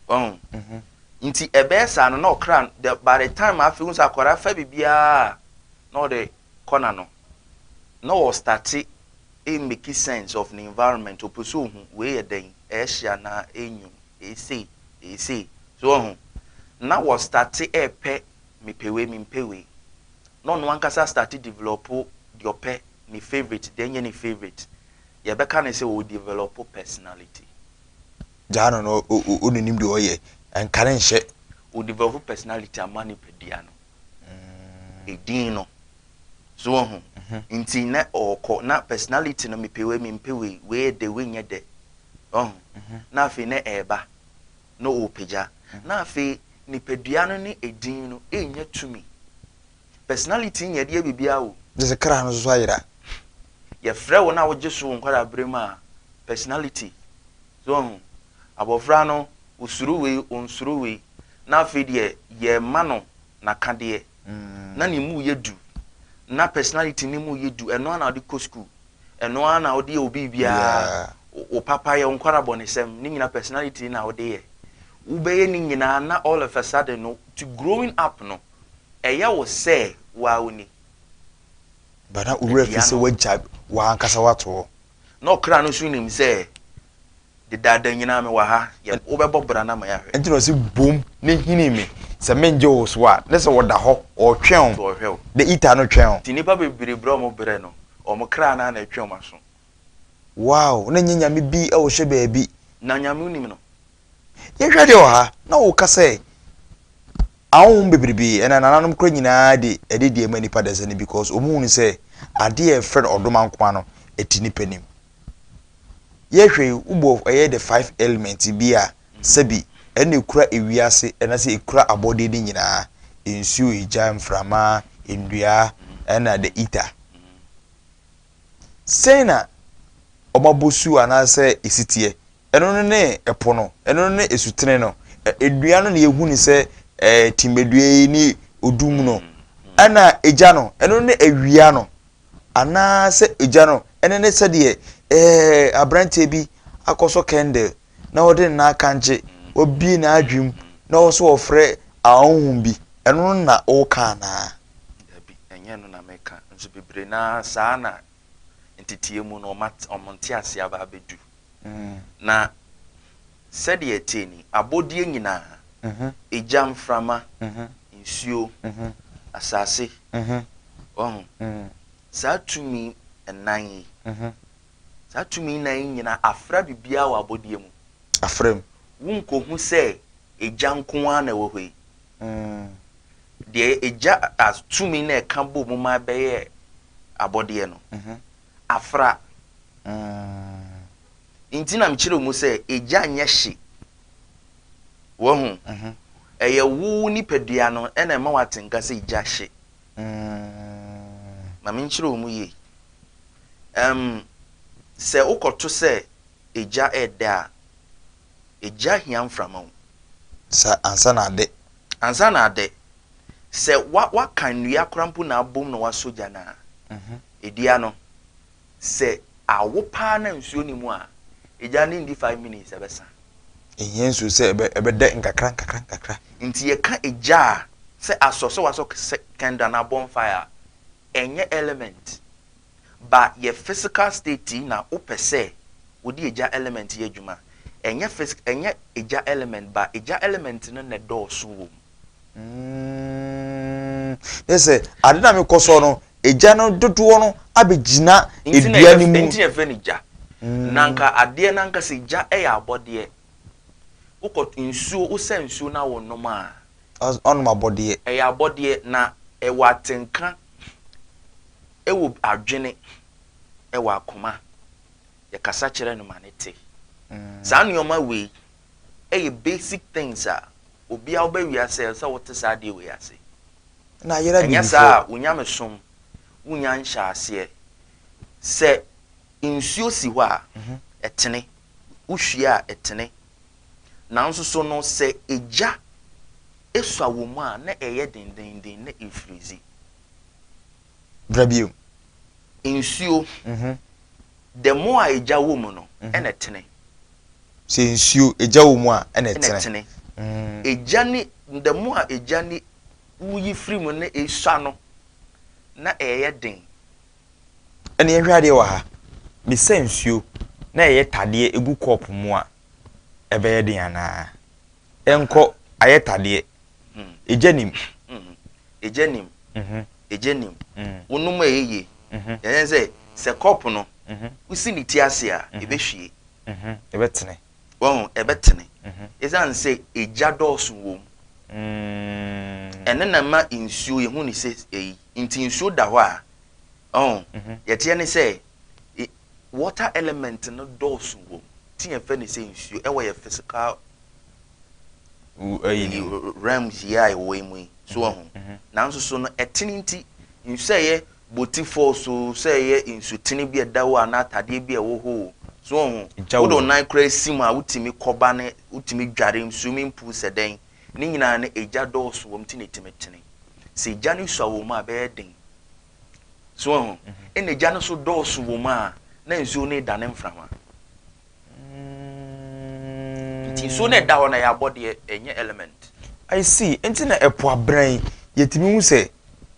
Wahu? Mm-hmm. Nti ɛbɛyɛ saa no, na ɔkra no, the, by the time afei, wohu sɛ akwadaa fa biribiara a, na ɔde kɔ n'ano. na ɔ starte e meki sense of ne environment ɔpɛ sɛ ɔhu wei yɛ dɛn ɛɛhye anaa ɛnwunu eesei eesei so wahu na wɔ starte ɛɛpɛ mepɛ wei mempɛ wei na ɔno ankasa astarte develɔpo deɛ ɔpɛ ne favourite deɛ ɛnyɛ ne favourite yɛbɛka no sɛ ɔ develɔpo personality. Gyaa no na ɔ nim deɛ ɔyɛ nka no nhyɛ. Ɔ develɔpo personality ama nipadua no edin no. So woahu? Nti na ɔɔkɔ, na personality no, mepɛ wei, mempɛ wei, wei yɛ dɛ, wei nyɛ dɛ. Woahu? Na afei na ɛɛba, na ɔɔpagya. Na afei nipadua no ne edin no nnya tumi. Personality nnyɛ de yɛ biribiara o. Gye sɛ kra no so ayera. Yɛfrɛ wo na wogye so wo nkwadaa-berɛ mu a, personality. So woahu? Abɔfra no, ɔsuro wei, ɔnsuro wei. Na afei deɛ, yɛɛma no n'akadeɛ. na ne mu yɛ du na personality no mu yɛ du ɛno ara na ɔde kɔ school ɛno ara na ɔde yɛ obi biara wo papa yɛ nkwara bɔnesɛm ne nyina personality na ɔde yɛ wobɛyɛ ne nyinaa na all of a sudden no to growing up no ɛyɛ wo sɛ wo a woni bana owura fi sɛ wagya wankasa wato hɔ Na ɔkra no nso nim sɛ dedaada nyinaa mewɔ ha, yɛ wobɛbɔ bra no ama yɛahwɛ. Nti na ɔse bom ne hini me sɛ mengye wo so a, ne sɛ wɔda hɔ ɔɔtwɛn wo, ɔɔhwɛ wo. The eater no twɛn wo. Nti nnipa bebree brɛ wɔn brɛ no, wɔn kra no ara na ɛtwe wɔn aso. Wow, na ɛnyɛ Nyame bi wɔ hwɛ baabi. Na Nyame nim no. Yɛnhwɛ deɛ ɔha na woka sɛ ahonhom bebrebe ɛna nananom kora nyinaa de ɛde deɛ ma nipa dasani because wɔn hunu sɛ adeɛ a ɛfrɛ no ɔdoma nkoma no ɛti nipa nim. Yɛhwɛ yi wobɔ ɛyɛ the five element bi a sɛbi ɛna ɛkura ewiase ɛna sɛ ɛkura abɔdeɛ no nyinaa nsuo, egya, mframa, nnua ɛna the ether. Sɛn na wɔn abosu anaasɛ esi teɛ? Ɛno no ne ɛpo no, ɛno no ne esutene no. Edua no na yɛhu no sɛ ɛɛ timmedua yi ne odum no. Ɛna egya no, ɛno no ne awia no. Anaasɛ egya no, ɛno ne sɛdeɛ ɛɛ aberanteɛ bi akɔsɔ kɛndɛl na ɔde ne nan akankye, wabue n'adwene mu, na ɔwɔ sɛ ɔfrɛ ahonhom bi. Ɛno no na woreka anaa? Dabi, ɛnyɛ ɛno na mereka. Nso bebree no ara saa ara na ntetee mu no wɔn ntease aba abɛdu. Na sɛdeɛ ɛte ni, abɔdeɛ nyinaa, egya, mframa, nsuo, asase, wahu, saa tumi nnan yi, Saa tumi nnan yi nyina afra biribiara wɔ abɔdeɛ mu. Afra mu. Wonkɔhu sɛ Agya nko ara na ɛwɔ hɔ yi. Deɛ Agya as tumi na ɛka bɔ mu ma ɛbɛyɛ abɔdeɛ no, afra. Nti na mekyerɛ mu sɛ Agya nyɛ hye. Wahu? Ɛyɛ wo wo nipadua no na ɛma woate nka sɛ Agya hye. Mm, ma menkyerɛ wo mu yie. Ɛm, sɛ wokɔto sɛ egya redɛ a, egya hia mframa o. Sɛ ansa na adɛ. Ansa na adɛ. Sɛ wa, wakan nnua koraa mpo na abom na wasɔ gya no a, edua no, Sɛ awo paa na nsuo nni mu a, egya no nndi five minutes ɛbɛsa. Ɛhia nsuo sɛ ɛbɛdɛ nkakra nkakra nkakra. Nti yɛka egya a, sɛ asɔ sɛ wasɔ kɛntɛn anaa bonfire a, ɛnyɛ element ba yɛ physical state yi na wopɛ sɛ wode egya element yɛ adwuma a, ɛnyɛ ɛnyɛ egya element ba egya element no na ɛdɔɔso wɔ mu. Yɛ sɛ ade na mekɔ so no egya no dodoɔ no abɛgyina dua no mu. Nti na ɛfɛ no gya. Mm. Na nka adeɛ no ankasa gya yɛ abɔdeɛ. Wokɔ nsuo wosa nsuo na wonom a. Ɔnom abɔdeɛ. Ɛyɛ abɔdeɛ na ɛwɔ atenka ɛwɔ adwene ɛwɔ akoma. Yɛkasa kyerɛ no ma ne te. Mm. Saa nneɛma wei yɛ basic things a obi a woba wiase a ɛsɛ sɛ wote saa adeɛ wei ase. Na ayera bibifo. Ɛnyɛ saa a wo nyamesom wonya nhyɛaseɛ. Sɛ nsuo si hɔ a ɛtene, wohwie a ɛtene. Nanso so no sɛ egya esua wɔ mu a na ɛyɛ dendenden na efirizi. Bra bio. Nsuo The more a egya wɔ mu no, ɛna ɛtene. Sɛ nsuo, egya wɔ mu a, ɛna ɛtene. Ɛna ɛtene. Egya ne, the more a egya ne woyi firi mu na esua no, na ɛyɛ den. Ɛna yɛnhwɛ adeɛ wɔ ha. Mesa nsuo na ɛyɛ tadeɛ gu kɔɔpo mu a, ɛbɛyɛ den anaa? Ɛnkɔ, ayɛ tadeɛ. Egya nim. Egya nim. Egya nim. Wonom a ɛyɛ yie. Yɛn sɛ, sɛ kɔpo no, wosi ne ti ase a, ɛbɛhwie. Ɛbɛtene. Wahu, ɛbɛtene. Ɛsiane sɛ egya dɔɔso wom. Ɛno na ɛma nsuo, yɛhu ne sɛ ɛyi. Nti nsuo da hɔ a, ɔho, yɛteɛ ne sɛ, Water element no dɔɔso wɔ mu nti yɛ fɛ no sɛ nsuo ɛwɔ yɛ physical realms yi a yɛ wɔ yi mu yi so wɔ ho nanso so no ɛtene nti nsuo ɛyɛ boti falls o sɛ ɛyɛ nsuo tene bi ɛda hɔ anaa atadeɛ bi ɛwɔ hɔ o so wɔ ho wo de ɔnan kora si mu a wotumi kɔba ne wotumi dware mu swimming pool sɛ dɛn ne nyinaa no egya dɔɔso wɔ mu nti na ɛtumi tene sɛ egya no sua wɔ mu a ɛbɛyɛ den So wahu? Ɛna gya no so dɔɔso wɔ mu a, na nsuo no redane mframa. Nti nsuo no ɛda hɔ na ɛyɛ abɔdeɛ, ɛnyɛ element. I see. Nti na ɛpo abran yi, yɛtumi hu sɛ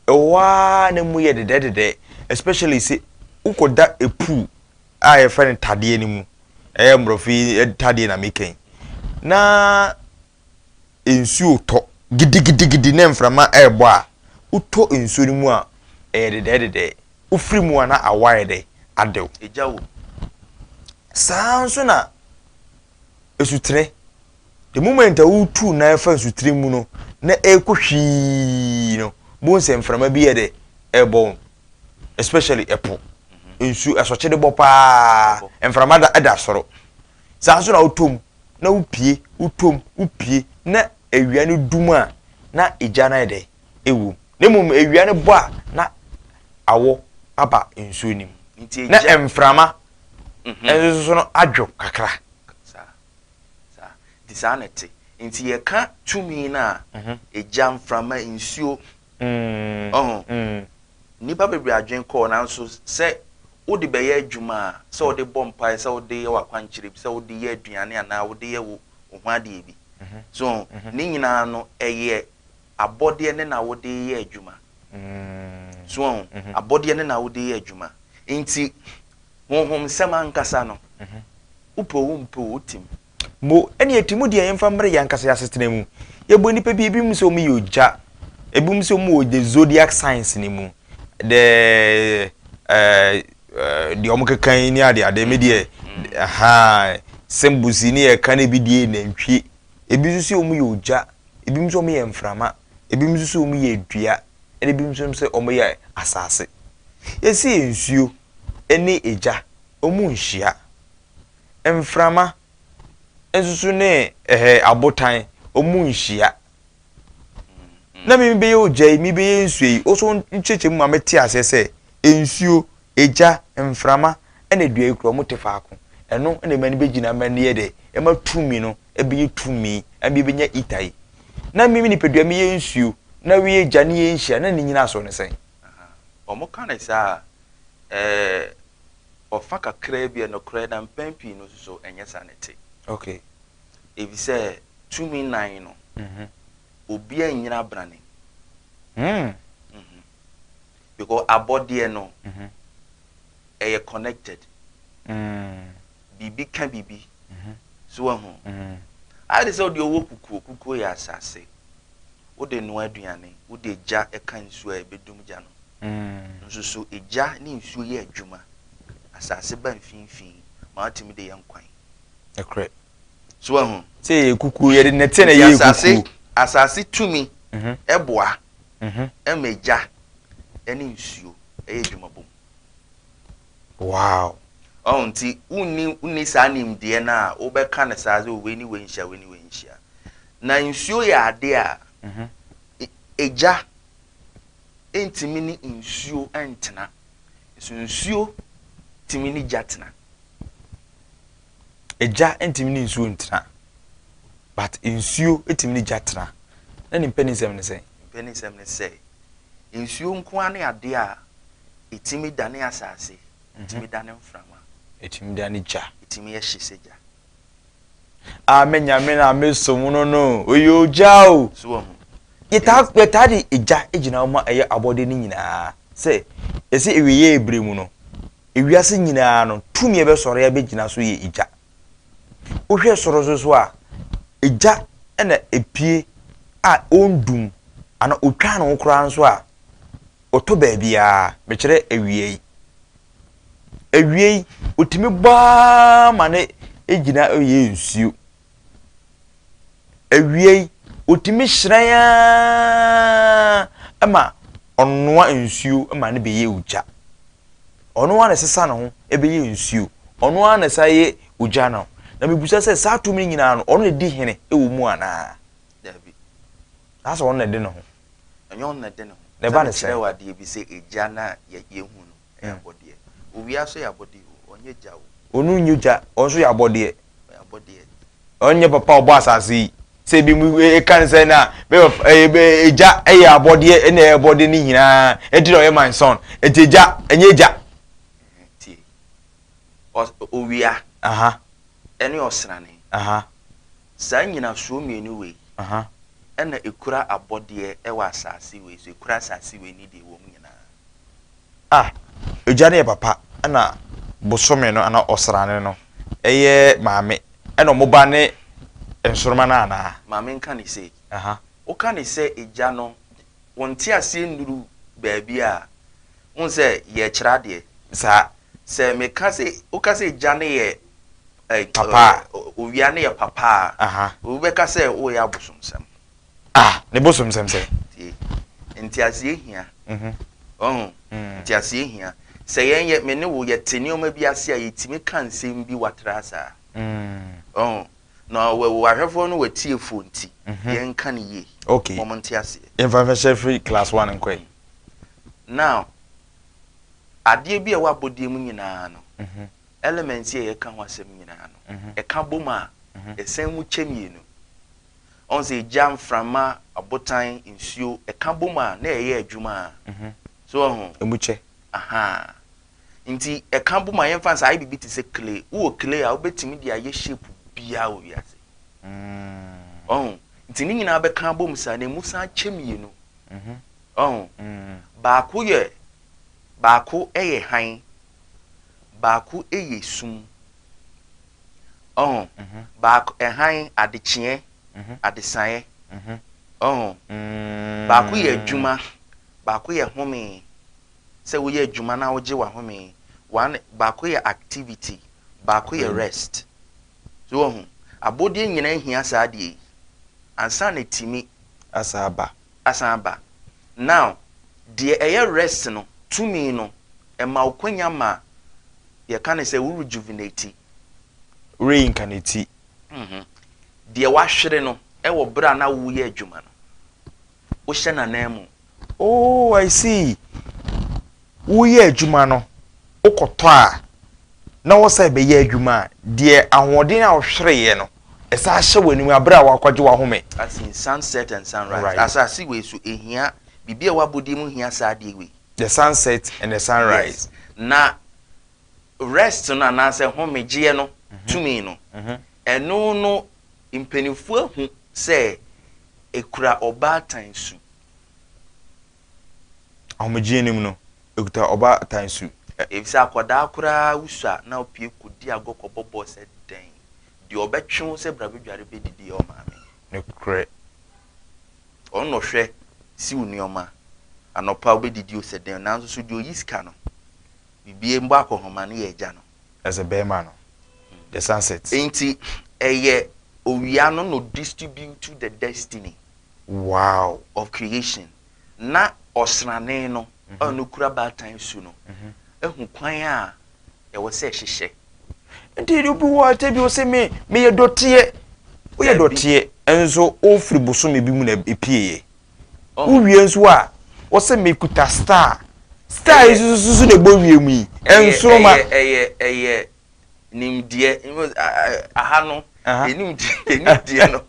ɛwɔ ara na mu yɛ dedɛdedɛ, especially sɛ wokɔda ɛpu a yɛfrɛ no tadeɛ no mu, ɛyɛ mmorɔfo yi tadeɛ na meka yi, na nsuo retɔ gidigidigidi na mframa rebɔ a, wotɔ nsuo no mu a, ɛyɛ dedɛɛdedɛɛ. Wofiri mu a na awɔ ayɛ dɛ, adɛw, egya wom. Saa ara nso na asutene, the moment a wotu nan afa nsutene mu no na ɛrekɔ hwii no, bohu sɛ mframa bi yɛ dɛ ɛrebɔ wɔn, especially ɛpo. Nsuo, asɔkye de bɔ paa, mframa da da soro. saa nso na wotɔ mu na wopie wotɔ mu wopie na awia no dum a na egya no ayɛ dɛ ɛwom na mmom awia no bɔ a na awɔ aba nsuo no mu na mframa mhm. nso no adwo kakra nti saa na ɛte nti yɛka tumi no a mhm. egya mframa nsuo Ɔho? Nnipa bebree adwene kɔɔ, nanso sɛ wode bɛyɛ adwuma a, sɛ wode bɔ mpae, sɛ wode yɛ w'akwankyerɛ bi, sɛ wode yɛ aduane anaa wode yɛ wo ho adeɛ bi. So ɔho? Ne nyinaa no, ɛyɛ abɔdeɛ ne na wode reyɛ adwuma. So ɔho? Abɔdeɛ ne na wode reyɛ adwuma. Enti, honhomsɛm ankasa no, wopɛ o, wompɛ o, wotim. Mo, ɛne ɛte mu deɛ yɛmfa mmrɛ yɛn ankasa yɛn asetena mu. Yɛbɔ nnipa bi, ebinom sɛ wɔyɛ ogya, ebinom sɛ wɔwɔ the zodiac signs no mu, the ɛɛ deɛ wɔkeka yi ne ade ade, me deɛ ahaa symbols yi ne yɛka no ebi deɛ nantwie, ebi nso sɛ wɔyɛ ogya, ebinom nso wɔyɛ mframa, ebinom nso sɛ wɔyɛ dua, ɛna ebinom nso sɛ wɔyɛ asase. Yɛsi nsuo ɛne egya, wɔn nhyia. mframa nso so ne ɛhɛ abotan ɔmu nhyia na mi bɛyɛ ogya yi mi bɛyɛ nsuo yi ɔso nkyɛkyɛ mu ma mi te aseɛ sɛ nsuo egya mframa ɛna dua yi kura ɔmo te faako ɛno ɛna ɛma ni bɛ gyina ɛma ni yɛ dɛ ɛma tumi no ɛbɛyɛ tumi ɛma bi bɛnya ita yi na mi mi nipadua mi yɛ nsuo na wi yɛ gya ne yɛ nhyia na ne nyina asɔ ne sɛn. wɔn ka ne saa ɛɛ. Ɔfa kakraa bi yɛ nokorɛ na mpɛn pii no nso so ɛnyɛ saa na ɛte. Ok. Efisɛ tumi nnan no, obiara nnyina abrane mu. Because abɔdeɛ no, ɛyɛ connected. Biribi ka biribi. So wahu? Ayɛ te sɛ deɛ ɔwɔ kukuo, kukuo yɛ asase. Wode noa aduane, wode gya ka nsuo a ɛbɛdum gya no. Nsusu gya ne nsuo yɛ adwuma. Asase ba mfimfini ma watumi de yɛ nkwan. Nokorɛ. So wahu? Sɛ yɛyɛ kukuo, yɛde nnɛteɛ na ɛyɛɛ kukuo. Nti asase tumi boa ma gya ne nsuo yɛ adwuma bom. Wow! Ɔho nti wonni wonni saa nimdeɛ no a wobɛka no saa sɛ wei ne wei nhyia wei ne wei nhyia. Na nsuo yɛ adeɛ a egya ntumi ne nsuo ntena. Nso nsuo tumi ne gya tena. Egya ntumi ne nsuo ntena. But nsuo tumi ne gya tena. Na ne mpɛnisɛm ne sɛn? Mpɛnisɛm ne sɛ nsuo nko ara ne adeɛ a Ɛtumi dane asase. Ɛtumi dane mframa. Ɛtumi dane gya. Ɛtumi yɛ hye sɛ gya. A me nyame na me som no no, ɔyɛ ogya o. So wɔ ho. Yɛtaa yɛtaa de egya gyina ma ɛyɛ abɔde no nyinaa sɛ ɛsɛ ewieɛ ebere mu no ewiase nyinaa no tumi ɛbɛsɔre abɛgyina so yɛ egya. Wohwɛ soro so so a egya na epie a ɔndum ana otwa no koraa nso a Ɔtɔ baabiara, mekyerɛ awiei. Awiei, ɔtumi bɔ ara ma no gyina yɛ nsuo. Awiei, ɔtumi hyerɛn ara ma ɔnoa nsuo ma no bɛyɛ ogya. Ɔno ara na ɛsesa ne ho bɛyɛ nsuo. Ɔno ara na ɛsan yɛ ogya no. Na mebisa sɛ saa tumi no nyinaa no, ɔno na ɛdi hene wɔ mu anaa? Daabi. Saa sɛ ɔno na ɛde ne ho. Ɛnyɛ ɔno na ɛde ne ho. Sɛ ne kyerɛ wo adeɛ bi sɛ egya no a yɛhu no yɛ abɔdeɛ. Owia nso yɛ abɔdeɛ o, ɔnyɛ gya o. Ɔno nyɛ gya, ɔno nso yɛ abɔdeɛ. Ɔyɛ abɔdeɛ. Ɔno nyɛ papa a ɔbɔ asase yi. Sɛ ebi mu eka no sɛ na egya yɛ abɔdeɛ ɛna ɛyɛ abɔdeɛ no nyinaa ɛnti na ɔyɛ my son. Ɛnti egya ɛnyɛ gya. Tie, owia ɛne ɔsrane. Saa nnyinasoɔ mmienu wei na ɛkura abɔdeɛ wɔ asase wei so, ɛkura asase wei ne deɛ ɛwɔ mu nyinaa. A. Egya no yɛ papa ɛna bosome no anaa ɔsrane no yɛ maame ɛna wɔn ba ne nsoroma no anaa? Maame nka ne sei. Woka ne sɛ egya no, wo nteaseɛ nnuru baabi a, wohu sɛ yɛrekyerɛ adeɛ. Saa. Sɛ meka sɛ, woka sɛ egya no yɛ. Like papa a. Uh, owia no yɛ papa a. Aha. Obi bɛka sɛ woyɛ abosomsɛm. Ah, ne bosomsɛm sɛ. Tie, nteaseɛ hia. Mhm. Ɔho, mm. nteaseɛ hia. Sɛ yɛn yɛ, me ne wo yɛte nneɛma bi ase a yɛtumi ka nsɛm bi watra saa. Mm. Ɔho, na wahwɛfoɔ no watiefoɔ nti, mm -hmm. yɛnka no yie. Okay. Mɔm nteaseɛ. Yɛmfa mfɛhyɛ firi class one nkɔe. Mm. Now, adeɛ bi a ɛwɔ abɔdeɛ mu nyinaa no, mm -hmm. Element yi a yɛka ho asɛm nyinaa no, ɛka bom a, ɛsan mu kyɛ mmienu. Ɔhu sɛ gya, mframa, abotan, nsuo, ɛka bom a, na ɛyɛ adwuma a. So wahu? Ɛmu kyɛ. Ahaa. Nti ɛka bom a, yɛmfa no sɛ ayɛ biribi te sɛ clay. Wowɔ clay a, wobɛtumi de ayɛ shape biara wɔ wiase. Wahu? Nti ne nyinaa bɛka abom saa, na ɛmu san kyɛ mmienu. Wahu? Baako yɛ, baako yɛ hann. baako yɛ sum. Ɔho? Baako, hann, adekyeɛ, adesaeɛ. Ɔho? Baako yɛ adwuma, baako yɛ home, sɛ woyɛ adwuma na wogye w'ahome. One, baako yɛ activity, baako yɛ rest. So woahu? Abɔdeɛ nyinaa hia saa adeɛ yi ansa na atumi. Asa aba. asan aba. Now, deɛ ɛyɛ rest no, tumi no, ɛma wo kwanya ma yɛka no sɛ wo rejuvenati, reincarnati, deɛ w'ahwere no wɔ berɛ a na woreyɛ adwuma no, wohyɛ n'ananmu. Oh, I see. woreyɛ adwuma no wokɔtɔ a na wosan rebɛyɛ adwuma a, deɛ ahoɔden a wohwereeɛ no, ɛsan hyɛ w'anim berɛ a woakɔgye w'ahome. As in sunset and sunrise. Right. Asase wei so ɛhia biribi a ɛwɔ abɔdeɛ mu hia saa adeɛ wei. The sunset and the sunrise. Yes. Na rest no anaasɛ homegyeɛ no tumi no, ɛno no mpanimfoɔ ahu sɛ ɛkura ɔbaatan su. Ahomegye anim no, ekuta ɔbaatan su. Efisɛ akwadaa koraa wusu a, na opue kodi agɔ kɔbɔ bɔɔl sɛ dɛn? Deɛ ɔbɛtwe wo sɛ bra bedware bedidi yɛ wo maame. Nokorɛ. Ɔno na ɔhwɛ, si wo nneɛma. Anɔpa obedidi o sɛ dɛn o. Nanso so deɛ oyi sika no, biribi mbɔ akɔnhoma no yɛ agya no. As a barima no, the sunset. Enti ɛyɛ owia no na odistribute the destiny. Wow of Creation, na ɔsrane no a no kura baatan su no ahu kwan a ɛwɔ sɛ ɛhyehyɛ. Nti de obi wɔ ate bi ose me meyɛ dɔteɛ. Woyɛ dɔteɛ nso wofiri bosome bi mu na epieeɛ. Wowie nso a wose mekuta star. Star yi nso susu na ɛbɔ wiem yi. Nsoroma. Ɛyɛ ɛyɛ ɛyɛ nimdeɛ aha no nimdeɛ no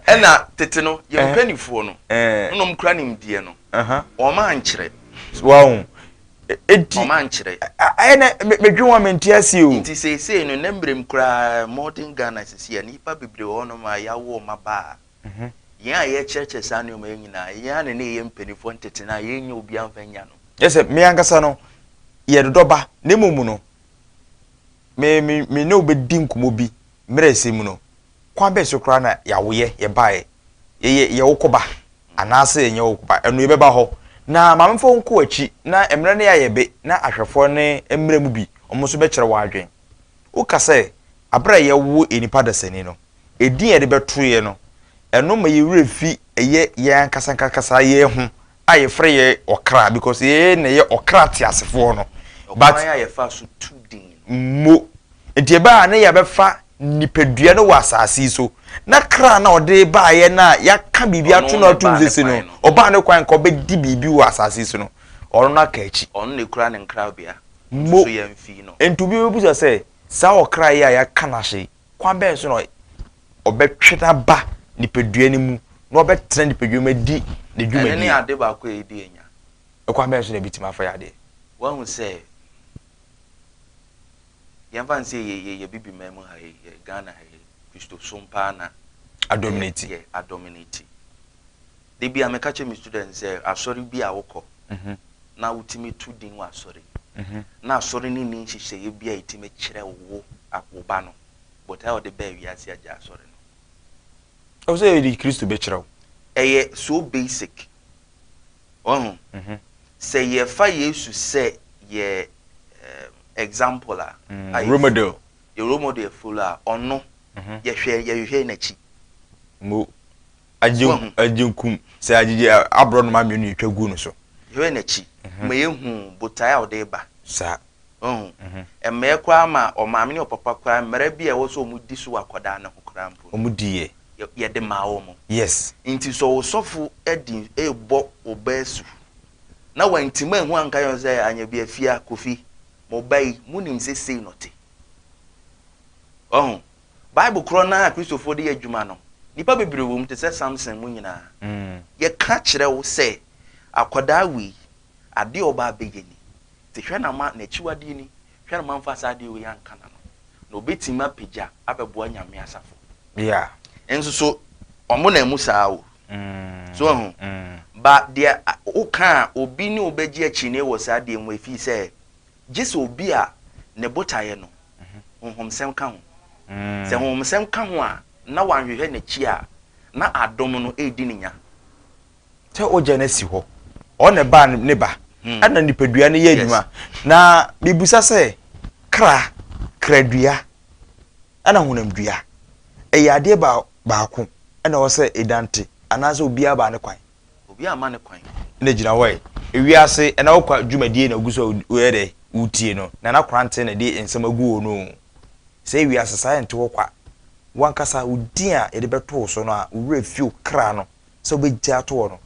ɛna tete no yɛ mpanimfoɔ no nom kura nimdeɛ no wɔn ankyerɛ wɔn eti wɔn ankyerɛ ɛna medwi wɔn mi nti ase o nti seesei no ne mmerɛm koraa modern Ghana sisi a nipa bebree wɔ hɔnom a yɛawo wɔn aba a mhm. yɛn a yɛkyerɛkyerɛ saa nneɛma yɛn nyinaa yɛn a ne ne yɛ mpanimfoɔ ntete no a yɛnyɛ obi amfa nya no yɛ sɛ mmea ankasa no yɛdodɔba ne mmom no me me me ne wo bɛdi nkɔmmɔ bi mmerɛsɛ mu no, kwan bɛn so koraa na yɛawoyɛ yɛbaeɛ? Yɛyɛ yɛ wo koba anaasɛ yɛnyɛ wo koba? Ɛno yɛbɛba hɔ. Na maame mfa wo nkɔ w'akyi na mmerɛ no yɛayɛ be na ahwɛfoɔ no mmra mu bi, wɔn nso bɛkyerɛ wo adwene. Woka sɛ aberɛ a yɛwo yɛn nipa dasani no, edin a yɛde bɛtoeɛ no, ɛno ma yɛn werɛ fi ɛyɛ yɛn ankasaankasaeɛ ho a yɛfrɛ yɛ ɔkra because yɛ na yɛ ɔkra teasefoɔ no but a yɛfa so tu din mo nti ɛbɛ a na yɛbɛfa nipadua no wɔ asase so na kra na ɔde baayɛ no a yɛaka biribi ato no atom sese no ɔbaa ne kwan nka ɔbɛdi biribi wɔ asase so no ɔno no aka akyi ɔno na ɛkura ne nkrabea mo nti obi bɛbusa sɛ saa ɔkra yi a yɛaka no ahye Kwan bɛn so na ɔbɛtwe no aba nipadua no mu na ɔbɛtena nipadua mu adi ne dwumadi? Ɛno ne ade baako a edi anya. Kwan bɛn so na ebetumi afa yɛ adeɛ? Woahu sɛ, yɛmfa no sɛ yɛ yɛ Bibiman mu ha yi, yɛ Ghana ha yi, Kristosom paa na. Adominati. Yɛ adominati. Da biara meka kyerɛ me students sɛ asɔre bi a wokɔ na wotumi to din wɔ asɔre no, na asɔre no nni nhyehyɛeɛ bi a ɛtumi kyerɛ wo wo ba no, but a ɔde baa wiase agyae asɔre no. Ɛwɔ sɛ yɛde Kristo bɛkyerɛ wo. Ɛyɛ so basic. Wahu? Sɛ yɛfa Yesu sɛ yɛ example a, a yɛ model, yɛ role model yɛ follow a, ɔno yɛhwɛ, yɛhwehwɛ n'akyi. Mo. Agye Woahu? agye nkum sɛ agyegye a, aborɔnoma mmienu yɛtwa guu no so. Hwɛ n'akyi ma yɛhu botae a ɔde reba. Saa. Woahu? Ɛmmeɛ koraa ma ɔmaame ne ɔpapa koraa mmara bi a ɛwɔ sɛ wɔdi so wɔ akwadaa no ho koraa mpo no, Wɔdiiɛ. yɛ, yɛde maa wɔn. Yes. Nti sɛ ɔsɔfo di rebɔ wo ba asu, na wantim anhu anka yɛn sɛ, Anyabiafia, Kofi, mo ba yi, monim sɛ sei na ɔte. Woahu? Bible korɔ no ara a Kristofoɔ de yɛ adwuma no, nnipa bebree wɔ mu te sɛ Samson mu nyinaa. Yɛka kyerɛ wo sɛ, akwadaa wei, adeɛ a ɔba abɛyɛ ni, nti hwɛ na ma n'akyiwadeɛ ni, hwɛ na ma mfa saa adeɛ wei anka n'ano, na ɔbɛtumi apagya abɛboa Nyame asafo. Nso so, wɔn na ɛmu saa o. So woahu? Ba deɛ woka a, obi ne wo bɛgye akyinnee wɔ saa deɛ mu, ɛfiri sɛ gye sɛ obi a ne botaeɛ no honhomsɛm ka ho. Sɛ honhomsɛm ka ho a, na wanhwehwɛ n'akyi a, na adom no redi ne nya. Sɛ wogya no asi hɔ, ɔno na ɛbaa no, ne ba, ɛna nipadua no yɛ adwuma. Na mebisa sɛ, kra, kradua, ɛna honamdua, ɛyɛ adeɛ baako ɛna ɛwɔ sɛ ɛnante, anaasɛ obiara baa ne kwan? obi amma no kwan. Na gyina hɔ ɛ. Ewiase ɛna wo kwa dwumadie na ogu so a wo yɛ dɛ wo tie no na na kranten na ɛde nsɛm agu wo no o. Sɛ ewiase saa ɛnte hɔ kwa. Wo ankasa wo din a yɛde bɛto wo so no a wo werɛ fi wo kra no sɛ wo bɛ gyaa to hɔ no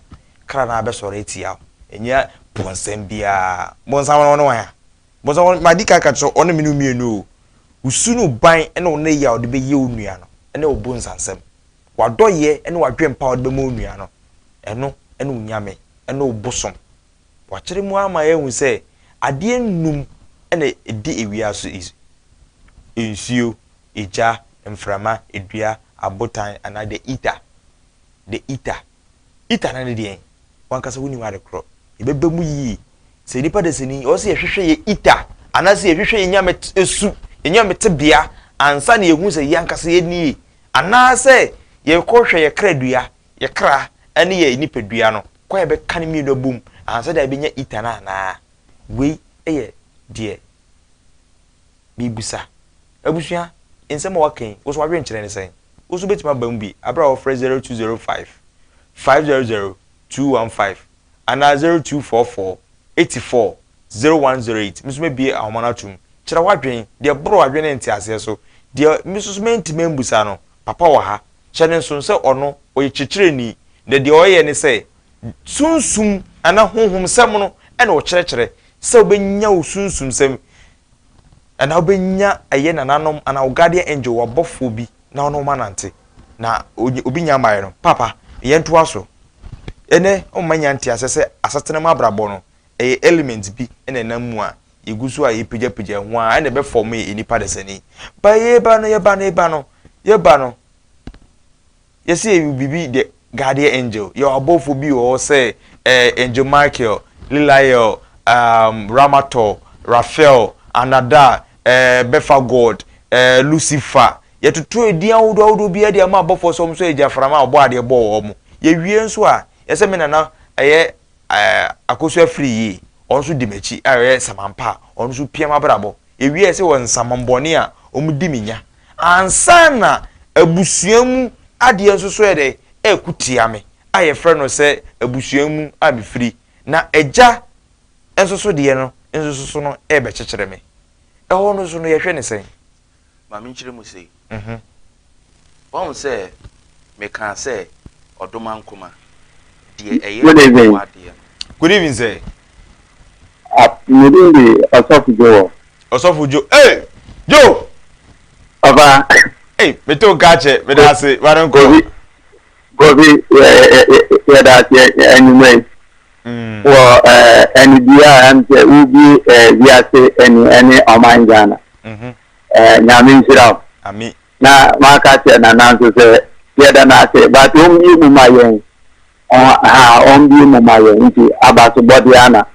kra no ara bɛ sɔre atia wo. Ɛnyɛ bonsam biara. Bonsam no ɔne wan a? Bonsam ɔne ma di kan ka kyerɛ wo ɔne me ne wo mmienu o. Wo su ne wo ban ɛne wo nnɛyi a wo de bɛ yɛ wo nua no ɛne wo bonsansɛm. W'adɔeɛ ne w'adwempa a wode bɛma onua no, ɛno ne wo nyame, ne wo bosom. Wɔakyerɛ mu ara ma yɛahu sɛ adeɛ nnum na ɛdi ewia so is, nsuo, egya, mframa, dua, abotan anaa the ether, the ether. Ether no ne deɛn? W'ankasa wonim ade korɔ. Yɛbɛba mu yie. Sɛ nnipa dasani, ɛwɔ sɛ yɛhwehwɛ yɛn ether anaasɛ yɛhwehwɛ yɛn nyame su, yɛn nyame tebea ansa na yɛahu sɛ yɛn ankasa yɛn nie. Anaasɛ yɛrekɔhwɛ yɛn kradua, yɛn kra, ne yɛn nipadua no, kwan a yɛbɛka ne mmienu abom ansa de abɛnya ita no anaa? Wei yɛ deɛ merebisa. Abusua, nsɛm a wɔaka yi, wo nso w'adwenkyerɛ ne sɛn? Wo nso wobɛtumi aba mu bi berɛ a wɔfrɛ 0205 500 215 anaa 0244 84 zero one zero eight, Me nso mɛbue ahoma no ato mu. Kyerɛ w'adwene, deɛ ɛboro w'adwene ne nteaseɛ so, deɛ me nso so mantumi ammisa no, Papa wɔ ha. Hyɛ no nsono sɛ Ɔno, Ɔyɛ Kyerɛkyerɛni, na deɛ Ɔyɛ ne sɛ, Sunsum anaa Honhomsɛm no na Ɔkyerɛkyerɛ, sɛ wobɛnya wo sunsumsɛm, anaa wobɛnya ɛyɛ nananom anaa wo guardian angel, w'abɔfoɔ bi, na ɔne wo ma nante, na obi nya mmaeɛ no. Paapa, yɛntoa so. Ɛnnɛ, woma nya nteaseɛ sɛ asetena mu abrabɔ no, ɛyɛ element bi na ɛnam mu a yɛgu so a yɛpagyapagya ho ara na ɛbɛfɔme yɛn nipa dasani. But yɛreba no, yɛba no, yɛba no, yɛba no, yɛsɛ yɛyɛ biribi the guardian angel, yɛwɔ abɔfoɔ bi wɔ hɔ sɛ eh, angel Michael, Liliel, um, Ramator, Raphael, Anada, eh, Bɛfa God, eh, Lucifer, yɛtoto edin ahodoɔ ahodoɔ biara de ama abɔfoɔ sɛ wɔn nso yɛ gyaframa a ɔbɔ adeɛ bɔ wɔn. Yɛwie nso a, yɛsɛ me nana ɛyɛ Ɛɛ, Akosu Afiri Yie, ɔno nso di m'akyi a ɔyɛ samampa a ɔno nso pia m'abrabɔ. Yɛwiae sɛ wɔ nsamanbɔne a wɔdi me nya ansa na abusua mu adeɛ nso so yɛ dɛn? Ɛreko tia me a yɛfrɛ no sɛ abusua mu a mefiri na agya nso so deɛ no nso so no rebɛkyekyere me. Ɛhɔ no nso no yɛhwɛ no sɛn? ma menkyerɛ mu sei. Woahu sɛ mekaa sɛ ɔdomankoma, deɛ ɛyɛ ɔwɔ adeɛ no. Good evening sir. Me din de Ɔsɔfo Joel. Ɔsɔfo Jo ee! Jo! Papa. Ei, meto nka akyɛ, meda ase, ware nkɔ. Kofi, Kofi, yɛda aseɛ anwummerɛ yi. Wɔ anidie a ɛm sɛ wobie wiase ani ɛne ɔman Ghana. Mhm. Eh, Nyame nhyira wo. Amen. Na maka kyerɛ Nana nso sɛ yɛda no ase but ɔmbie mu ma yɛn. Ɔha ɔmbie mu ma yɛn nti abasobɔ deɛ ana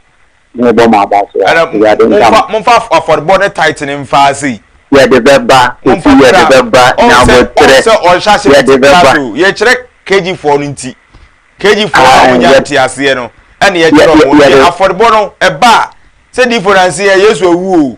mebɔ mo abaso a. Ɛna Awurade nka momfa mo. momfa af- afɔrebɔ ne tithe no mfa ase yi. Yɛde bɛba momfa kofi yɛde kra bɛba ɔn sɛ ɔn nyabotrɛ sɛ ɔnhyɛ ase yɛde tete bɛba. class o yɛkyerɛ kg foɔ no nti kg foɔ no a Ae, wɔnya yɛ- nteaseɛ no ɛne yɛ- yɛkyerɛ yɛ- wɔn nti yɛde afɔrebɔ no ɛba a sɛ diifo nanse yɛ yesu awu o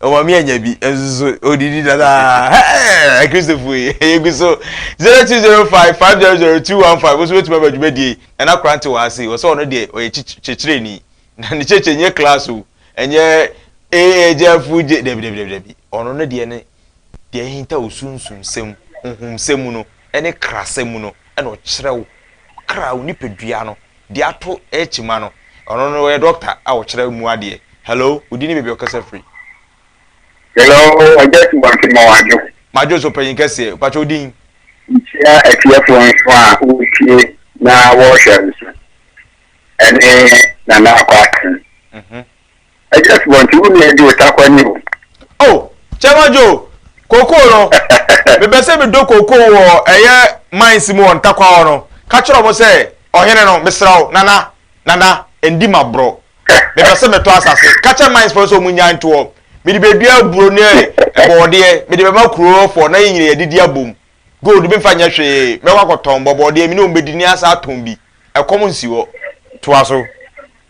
Ɔma me anya bi nso so odidi dada. Hey, Kristofo yi, yegu so 0205500215 nso betumi aba dwumadie na n'akora nte wɔ ase. Wɔsɛ ɔno deɛ ɔyɛ kyerɛkyerɛni na ne kyerɛkyerɛ nyɛ class o, ɛnyɛ ee gyafo gye dabi dabi dabi dabi. Ɔno ne deɛ ne deɛ ɛhinta wo sunsum nsɛm, honhom nsɛm mu no, ɛne krasɛm mu no, ɛna ɔkyerɛ wo kra wo nipadua no de ato kyima no ɔno no ɔyɛ doctor a ɔkyerɛ mu adeɛ hello wodin ne baabi a ɔkasa firi. Hello ɔgya subansi ma wadwo. Madwo so panyin kɛseɛ mpakyɛ wodin. Nkyia atiefoɔ nso a wotie na wɔhwɛ nso ɛne Nana Akɔ Akan Ɛdi asubɔ nti wo nua Joe ta kɔ ni o. Oh Chairman Joe, kokoo no, me pɛ sɛ me dɔ kokoo wɔ ɛyɛ mines mu wɔ ntakwa hɔ no, ka kyerɛ ɔmo sɛ ɔhene no, me srɛ wo, Nana, Nana, ɛndi ma borɔ. Me pɛ sɛ me tɔ asase, ka kyerɛ mines foɔ no sɛ ɔmo nnyae ntoɔ. Me de bɛdua aburo ne bɔɔdeɛ, me de bɛma kuro foɔ na yɛn nyina yɛdidi abom. Gold me nfa nyɛ hwee, mɛkɔ akɔtɔn bɔbɔɔdeɛ me ne ɔmo bɛdi ne asan atɔn bi. Ɛkɔm nsi hɔ. Toa so.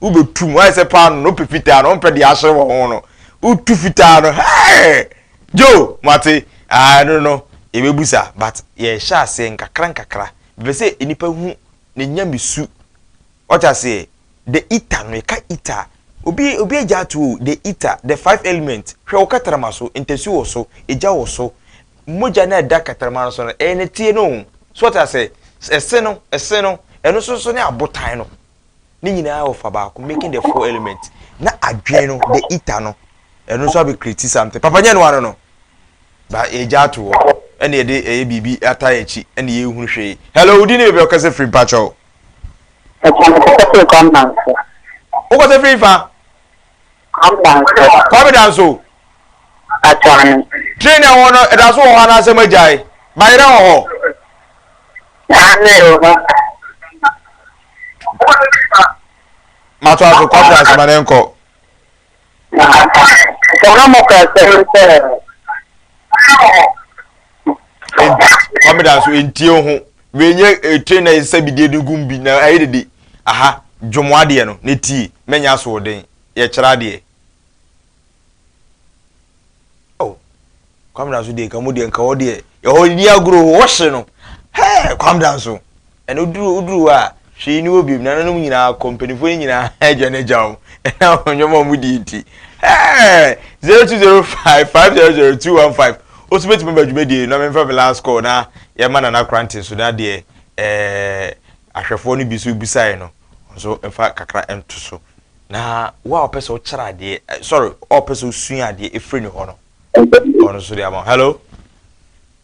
Wobetu mu, ayɛ sɛ paano na wɔpɛ fitaa na wɔmpɛ deɛ ahyɛ wɔn ho no. Wotu fitaa no, hɛɛ! Joe, moate? Ah, ɛno no, yɛbɛbu sa. But yɛrehyɛ aseɛ nkakrankakra. Mepɛ sɛ nnipa hu ne nyamesu. Wate aseɛ? The Eater no, yɛka Eater a, obi, obi agya ato o, The Eater, The Five Elements. Hwɛ wo katarama so, ntasuo wɔ so, egya wɔ so. Mogya no a ɛda katarama no so no, ɛyɛ nɛteɛ no o. So wate aseɛ? Ɛse no, ɛse no, ɛno nso so ne abotan no. ne nyinaa wɔ fa baako making the four element na adwene no the eater no ɛno nso abɛ create something papa nyɛ no ano no ba yɛgya ato hɔ ɛna yɛde ɛyɛ biribi ata yɛ akyi ɛna yɛhunu hwee hello wodi ne baabi a ɔkasa firi mpakyɛw wokasa firi fa Kwame Danso. Train na ɛwɔ no ɛda so wɔ hɔ anaasɛ magyae? Bayerɛ wɔ hɔ. Mato aso Kwame Danso ma ne nkɔ. Sɛ na mo kasa sɛ. kamera nso ntie ho wei nyɛ eh, train na yɛsesa bidie de gum bi na ayɛ dede aha dwom adeɛ no na tie mɛnyɛ asoɔden yɛkyerɛ adeɛ oh kamera nso deɛ nka mu deɛ nka hɔ deɛ ɛhɔ ni agorɔ hɔ hye no hɛɛ kamera nso Ɛnna oduru oduru hɔ a, hwee nni hɔ bio. Nananom nyinaa kɔ, mpanimfoɔ no nyinaa agya no agya wɔn. Ɛnna wɔn nneɛma a wɔdi nti. Hey! zero two zero five five zero zero two one five. Wo nso bɛtumi ba dwumadie no na memfa me last call na yɛma Nana Korante nso na deɛ ɛɛ ahwɛfoɔ no bi nso bisaeɛ no nso mfa kakra nto so na wo a wɔpɛ sɛ wokyerɛ adeɛ eh, sorry wɔpɛ sɛ wosua adeɛ ɛfiri ne hɔ no ɔno nso de ama hello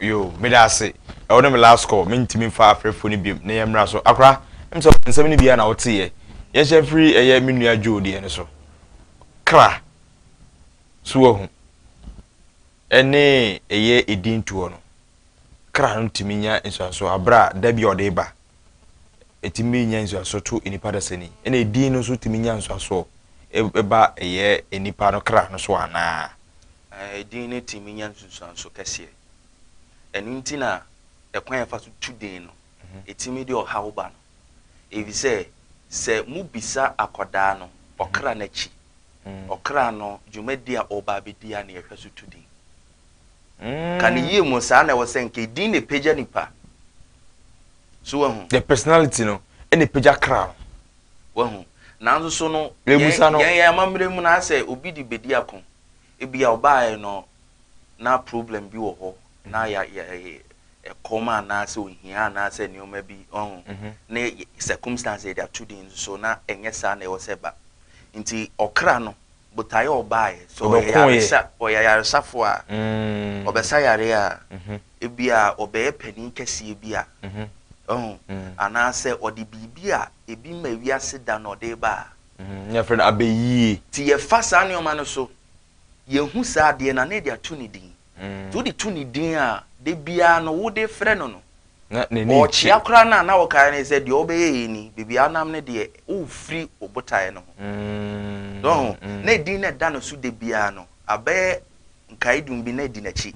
Yo, meda ase. Ɛwo ne me last call, mentumi mfa afrɛfoɔ no biom na yɛmmra so. Akora, ɛm sɛ nsɛm no bi ara na woteeɛ. Yɛnhyɛ mfiri ɛyɛ me nua Joe deɛ no so. Kra. So woahu? Ɛne ɛyɛ ɛdin toɔ no. Kra no tumi nya nsuansoɔ aberɛ a da bi a ɔde reba. ɛtumi nya nsuasoɔ to nnipa dasani ɛna edin no nso tumi nya nsuasoɔ ɛba ɛyɛ nnipa no kra no so anaa. Edin no tumi nya nsunsuanso kɛseɛ ɛno nti na ɛkwan yɛfa so tu din no ɛtumi de ɔhaw ba no ɛfisɛ sɛ mo bisa akɔdaa no ɔkra no akyi ɔkra no dwumadi a ɔba abɛdi a na yɛhwɛ so tu din. Ka no yie mo saa na ɛwɔ sɛ nka edin na epagya nipa. So wahu? The personality no ɛna epagya kra no. Wahu? Nanso so no Mebusa no. yɛn yɛn amammerɛ mu no ayɛ sɛ obi de bedi ako. Ebia ɔbaeɛ no na problem bi wɔ hɔ na ya ya ɛkɔm anaasɛ ohia anaasɛ nneɛma bi ɔho ne circumstance yɛde ato din nso na ɛnyɛ saa na ɛwɔ sɛ ɛba nti ɔkra no botae a ɔbaeɛ. Sɛ ɔyɛ yaresa, ɔyɛ ayaresafo a, ɔbɛsa yareɛ a, ebia ɔbɛyɛ panin kɛseɛ bi a, wahu, anaasɛ ɔde biribi a ebi ma wiase da na ɔde reba a. Na yɛfrɛ no abɛyie. Nti yɛfa saa nneɛma no so, yɛhu saa adeɛ no a, na yɛde ato ne din. Nti wode to ne din a, da biara no wode frɛ no no, ɔɔkyea koraa no a na wokae ne sɛ deɛ wobɛyɛ yei ni, baabi a wonam no deɛ wofiri wo botaeɛ no ho. So woahu? Na edin no a ɛda no so da biara no abɛyɛ nkaedum bi na adi n'akyi,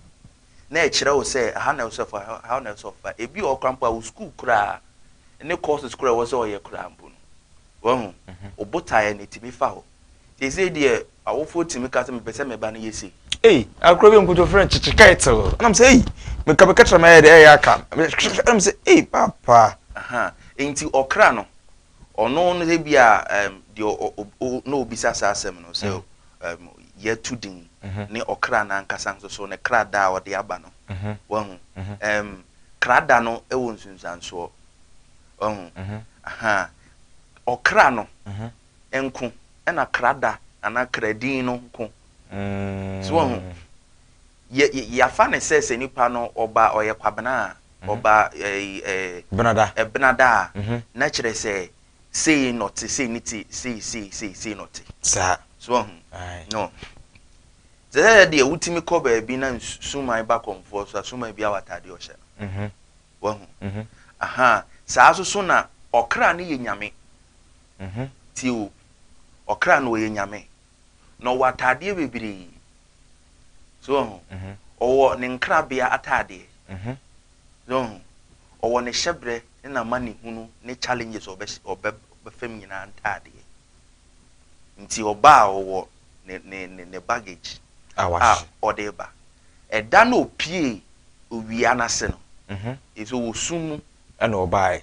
na ɛkyerɛ wo sɛ ɛha na ɛwɔ sɛ ɔfa, ɛha na ɛwɔ sɛ ɔfa. Ebi wɔ hɔ koraa mpo a wo sukuu koraa ne courses koraa a ɛwɔ sɛ ɔyɛ koraa mpo no, woahu, wo botaeɛ no ɛtumi fa hɔ. Seesei deɛ awofoɔ tumi ka sɛ mepɛ sɛ me ba no yɛ sei. Ei, akorɔ bi nkoto frɛ no kyekye kɛɛ too. Ɛna me sɛ ei, meka meka kyerɛ me ayɛ dɛ ɛyɛ aka. Ɛna me sɛ ei, papa. Aha, enti ɔkra no, ɔno no sɛ bi a um, deɛ na obisa saa asɛm no sɛ mm. um, yɛtu din mm -hmm. ne ɔkra no ankasa nso so ne kra da a ɔde aba no. Mm -hmm. Wahu? Mm -hmm. um, kra da no wɔ nsunsuansoɔ. Wahu? Mm -hmm. Aha, ɔkra no. Mm -hmm. nko na kra da anaa kra din no nko. So wahu? Yɛ, yɛafa no sɛ sɛ nipa no ɔba, ɔyɛ Kwabena a, ɔba ɛɛ ɛɛ. Benada. Ɛbenada a, na kyerɛ sɛ sei na ɔte, sei ne ti, sei, sei, sei, sei na ɔte. Saa. So wahu? Ae. No. Te sɛ yɛ deɛ wotumi kɔ baabi na nsu, suman ba kɔmfoɔ so a, suman biara wɔ ataadeɛ ɔhyɛ no. Wahu? Aha. Saa nso so na ɔkra no yɛ Nyame. Mhmm tie o ɔkra no ɔyɛ nyame na ɔwɔ ataadeɛ bebree so wahu ɔwɔ ne nkrabea ataadeɛ mhmm so wahu ɔwɔ ne hyɛbrɛ ne namanehunu ne challenges ɔbɛ ɔbɛfam nyinaa ntaadeɛ nti ɔba a ɔwɔ ne ne ne ne baggage a ɔde ba ɛda na ɔpie owia no ase no mhmm ɛfisɛ ɔwɔ sum mu ɛna ɔbaeɛ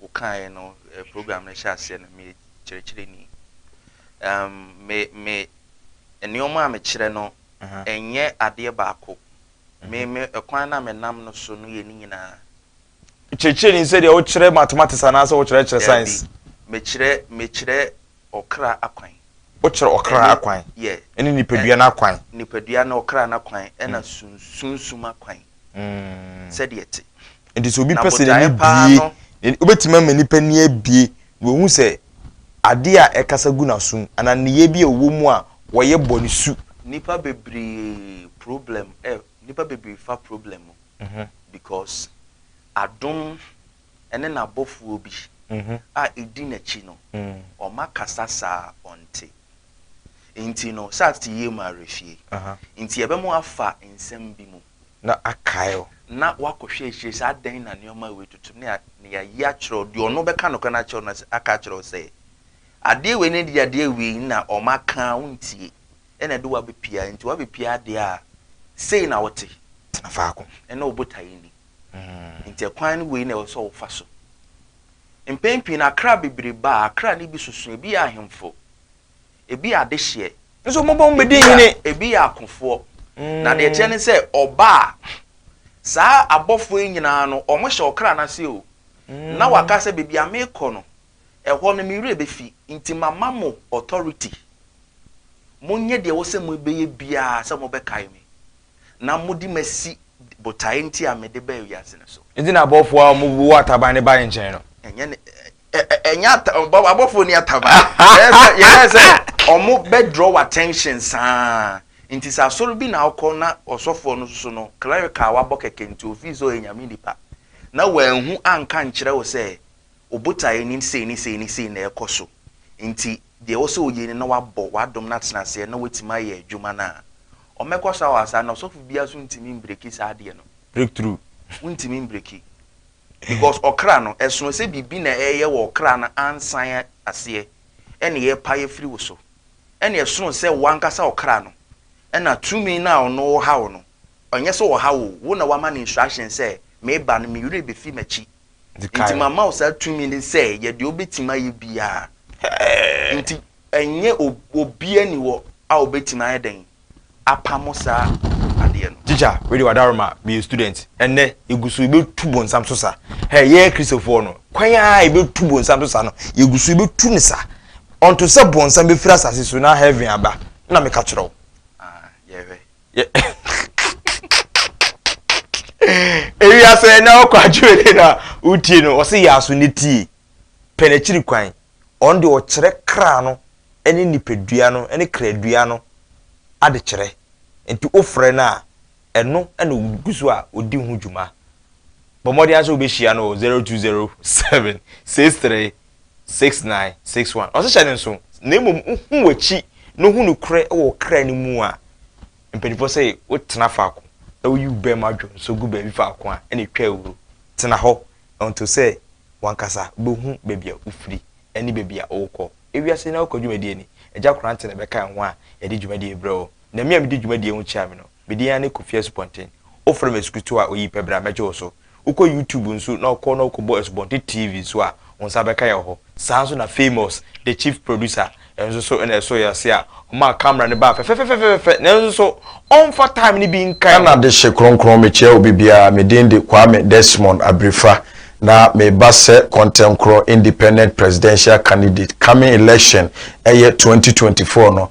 wo kaeɛ no eh, program no hyɛ aseɛ no meyɛ kyerɛkyerɛni um, me me nneɛma a mekyerɛ no ɛnyɛ adeɛ baako me me ɛkwan no a menam no so no yɛ ne nyinaa kyerɛkyerɛni sɛdeɛ wokyerɛ mathematics anaasɛ wokyerɛkyerɛ science mekyerɛ mekyerɛ ɔkra akwan wokyerɛ ɔkra akwan ɛne nipadua no akwan nipadua no ɔkra no akwan ɛna mm. sunsum akwan mm. sɛdeɛ te Enti sɛ obi pɛ sɛ n'ani bue, wobɛtumi ama nipa ani abue na wahu sɛ adeɛ a ɛkasa gu n'asom anaa nneyɛɛ bi a ɔwɔ mu a wɔyɛ bɔ no su. Nnipa bebree problem ɛ, nnipa bebree fa problem mu because adom ne n'abɔfoɔ bi a ɛdi n'akyi no, wɔakasa saa a ɔnte. Enti no, sɛ ate yie mu awerɛfie nti, yɛbɛma wafa nsɛm bi mu. na akae wo. Na woakɔhwɛ akyire sɛ adɛn na nneɛma a wei tutu ne nea ayi akyerɛ wo, deɛ ɔno bɛka nokorɛ no akyerɛ wo no sɛ aka akyerɛ wo sɛ adeɛ wei ne deɛ adeɛ wei na ɔmaka a wontie ɛna ɛde wo abɛpia enti woabɛpia adeɛ a sei na wote tena faako ɛne wo botaeɛ nni enti ɛkwan ne wei na ɛwɔ sɛ wofa so. Mpɛn pii no akra bebree ba a akra no bi soso ebi yɛ ahemfo ebi yɛ adehyeɛ. nso mobɔ mo bɛdi hene. ebi yɛ akofoɔ. na deɛ ɛteɛ ne sɛ ɔba a saa abɔfoɔ yi nyinaa no wɔhyɛ ɔkra no ase o na waka sɛ baabi a merekɔ no ɛhɔ no me werɛ bɛfi nti mama mo authority monyɛ deɛ ɛwɔ sɛ mobɛyɛ biara sɛ mobɛkae me na mode masi botaeɛ nti a mede baa wiase no so. Enti na abɔfoɔ a wɔwɔ ataban no bae nkyɛn no. Ɛnyɛ ne, ɛnyɛ ata abɔfoɔ ni ataba yɛyɛ sɛ ɔmo bɛ draw attention saa nti sɛ asɔre bi na ɔkɔ na ɔsɔfoɔ no soso no clerical wabɔ kɛkɛ nti ofii sɛ ɔyɛ nyame nipa na wɔanhu anka nkyerɛ wo sɛ obotaeɛ ni sei ne sei ne sei na ɛkɔ so nti deɛ ɛwɔ sɛ ɔyɛ ni na wabɔ wadom no atena aseɛ na watumi ayɛ adwuma no a ɔmɛkɔ so awɔ asaa na ɔsɔfo biara so ntumi mbreki saa adeɛ no breakthrough wontumi mbreki Because ɔkra no, ɛsono sɛ biribi na ɛreyɛ wɔ ɔkra no ansan aseɛ ɛna yɛrepae afiri wo so. Ɛna ɛsono sɛ wo ankasa ɔkra no ɛna tumi no a ɔno ɔha wo no, ɛnyɛ sɛ ɔha wo o, wo na woama no instruction sɛ meba no, me werɛ bɛfi m'akyi, nti mama wo saa tumi no sɛ yɛ deɛ wobɛtumi ayɛ biara. Nti ɛnyɛ obiara ni hɔ a ɔbɛtumi ayɛ dɛn? apamo saa adeɛ no. Teacher wei deɛ wadaroma me yɛ student ɛnɛ yɛguso yɛbɛtu bonsam so sa hɛ yɛ kristofoɔ no kwan a yɛbɛtu bonsam so sa no yɛguso yɛbɛtu no sa ɔnto sɛ bonsam bɛfiri asase so na heaven aba na meka kyerɛ wo yɛhwɛ ewiase na ɔkɔ adwene no a wotie no ɔse yɛ aso ne tie pɛ n'akyiri kwan Ɔno deɛ ɔkyerɛ kra no ne nipadua no ne kradua no adekyerɛ. Nti wofrɛ no a, ɛno na ɔgu so a ɔdi ho dwuma. Bɔ mmɔden ara sɛ wobɛhyia no wɔ zero two zero seven six three six nine six one. Ɔse hyɛ no nso na mmom wohu w'akyi na wohu nokorɛ wɔ wo kra no mu a, mpanimfoɔ se wotena faako na woyi wo bɛmma dwonsɔ gu baabi faako a na ɛtwa awuo. Tena hɔ Ɛnto sɛ w'ankasa wobɛhu baabi a wofiri ne baabi a worekɔ. Ewiase nyinaa wokɔ dwumadie ni. Agya Korantɛ na ɛbɛkae ho a yɛde dwumadie rebrɛ wo. Na me a medi dwumadie ho kyia me no, me din ara ne Kofi Asupɔnten. Wofrɛ me Asukutuo a, oyi pɛ bra mɛgye wo so. Wokɔ YouTube nso na wokɔ na wokɔbɔ Asupɔnten TV nso a, wo nsa bɛka yɛn wɔ hɔ. Saa nso na Famous, the chief producer, nso so na ɛsoo yɛn ase a ɔmaa camera no baa fɛfɛfɛfɛfɛfɛ nanso so ɔmfa time no bi nka yɛn ho. Ghana dehye kronkron mekyia obi biara me din de Kwame Desmond Abirifra na meba sɛ Kɔntɛnkorɔ Independent Presidential Candidate coming election ɛyɛ twenty twenty four no